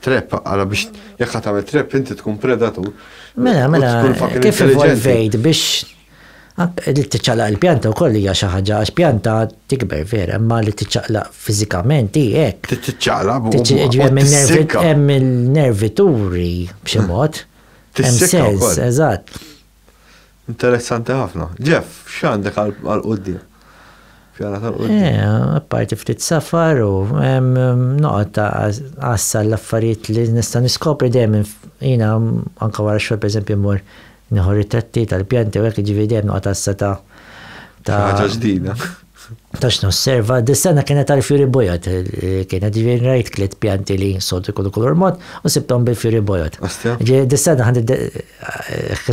Trap, għala biex jekk ħat tagħmel trap inti tkun predatur. Mela, mela, kif involvejt biex li tiċċaqlaq il-pjanta u koll hija xi ħaġa għax pjanta tikber vera, imma li tiċċaqlaq fiżikament hi hekk. Tiċċaqlaq buq. Hemm il-nervituri b'xi mod. Hemm sens, eżatt. Interessanti ħafna. Jeff, x'għandek għal quddiem? Pjana tal-quddiem. Eh, parti ftit safar u noqgħod ta' għassa l-affarijiet li nista' niskopri dejjem jiena anke wara xogħol pereżempju mmur nieħu ritratti tal-pjanti u hekk ġivi dejjem noqgħod għassa ta' ta' ġdida. Tax nosserva, dis-sena kienet tal-fjuri bojod, kienet ġifieri rajt tliet pjanti li soltu jkunu kulur mod u sibthom bil-fjuri bojod. Ostja. Ġifieri dis-sena ħadd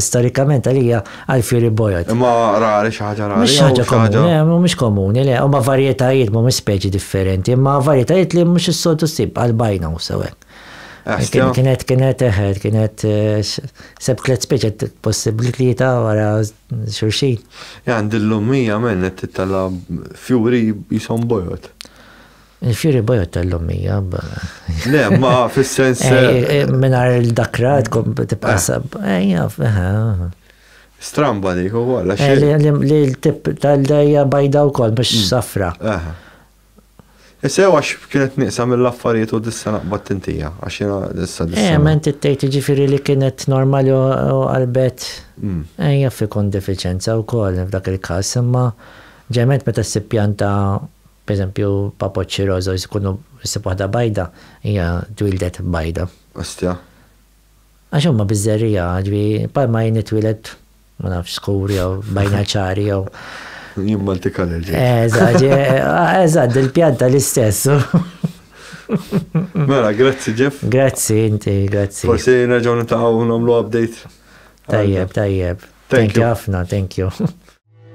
storikament għalija għall-fjuri bojod. Imma rari, xi ħaġa rari? Mhix xi ħaġa komuni, le, mhumiex komuni, le. Huma varjetajiet, mhumiex speċi differenti, imma varjetajiet li mhux is-soltu ssib bħal bajna u sew hekk. Ostja. Kienet, kienet, eħe, kienet, sebt tliet speċi possibbli tlieta wara. xulxin. Jan din l-ommija menn qed tittella' fjuri qishom bojod. Il-fjuri bojod tal-ommija. Le, ma fis-sens. Mingħajr il-dakra tkun tibqa' sab. Ejja, Stramba dik ukoll. Li l-tip tal-dejja bajda wkoll mhux safra. Sew għax kienet nieqsa mill-affarijiet u dissa naqbad tintija, għax jena dissa eh, dissa. Eh, ma inti tgħid ġifieri li kienet normali u qalbet. Mm. Eh, jaf ikun defiċenza wkoll f'dak il-każ, imma ġement meta ssib pjanta pereżempju papoċċi roża jkunu ssib waħda bajda, hija twildet bajda. Ostja. Għax huma biżżerija, ġifieri palma jien itwieled Ma nafx skur jew bajna ċari jew. Jien Malti kaler ġej. Eżatt, eżatt, il-pjanta l-istess. Mela, grazzi Jeff. Grazzi inti, grazzi. Forsi nerġgħu nitaqgħu nagħmlu update. Tajjeb, tajjeb. Thank you ħafna, thank you.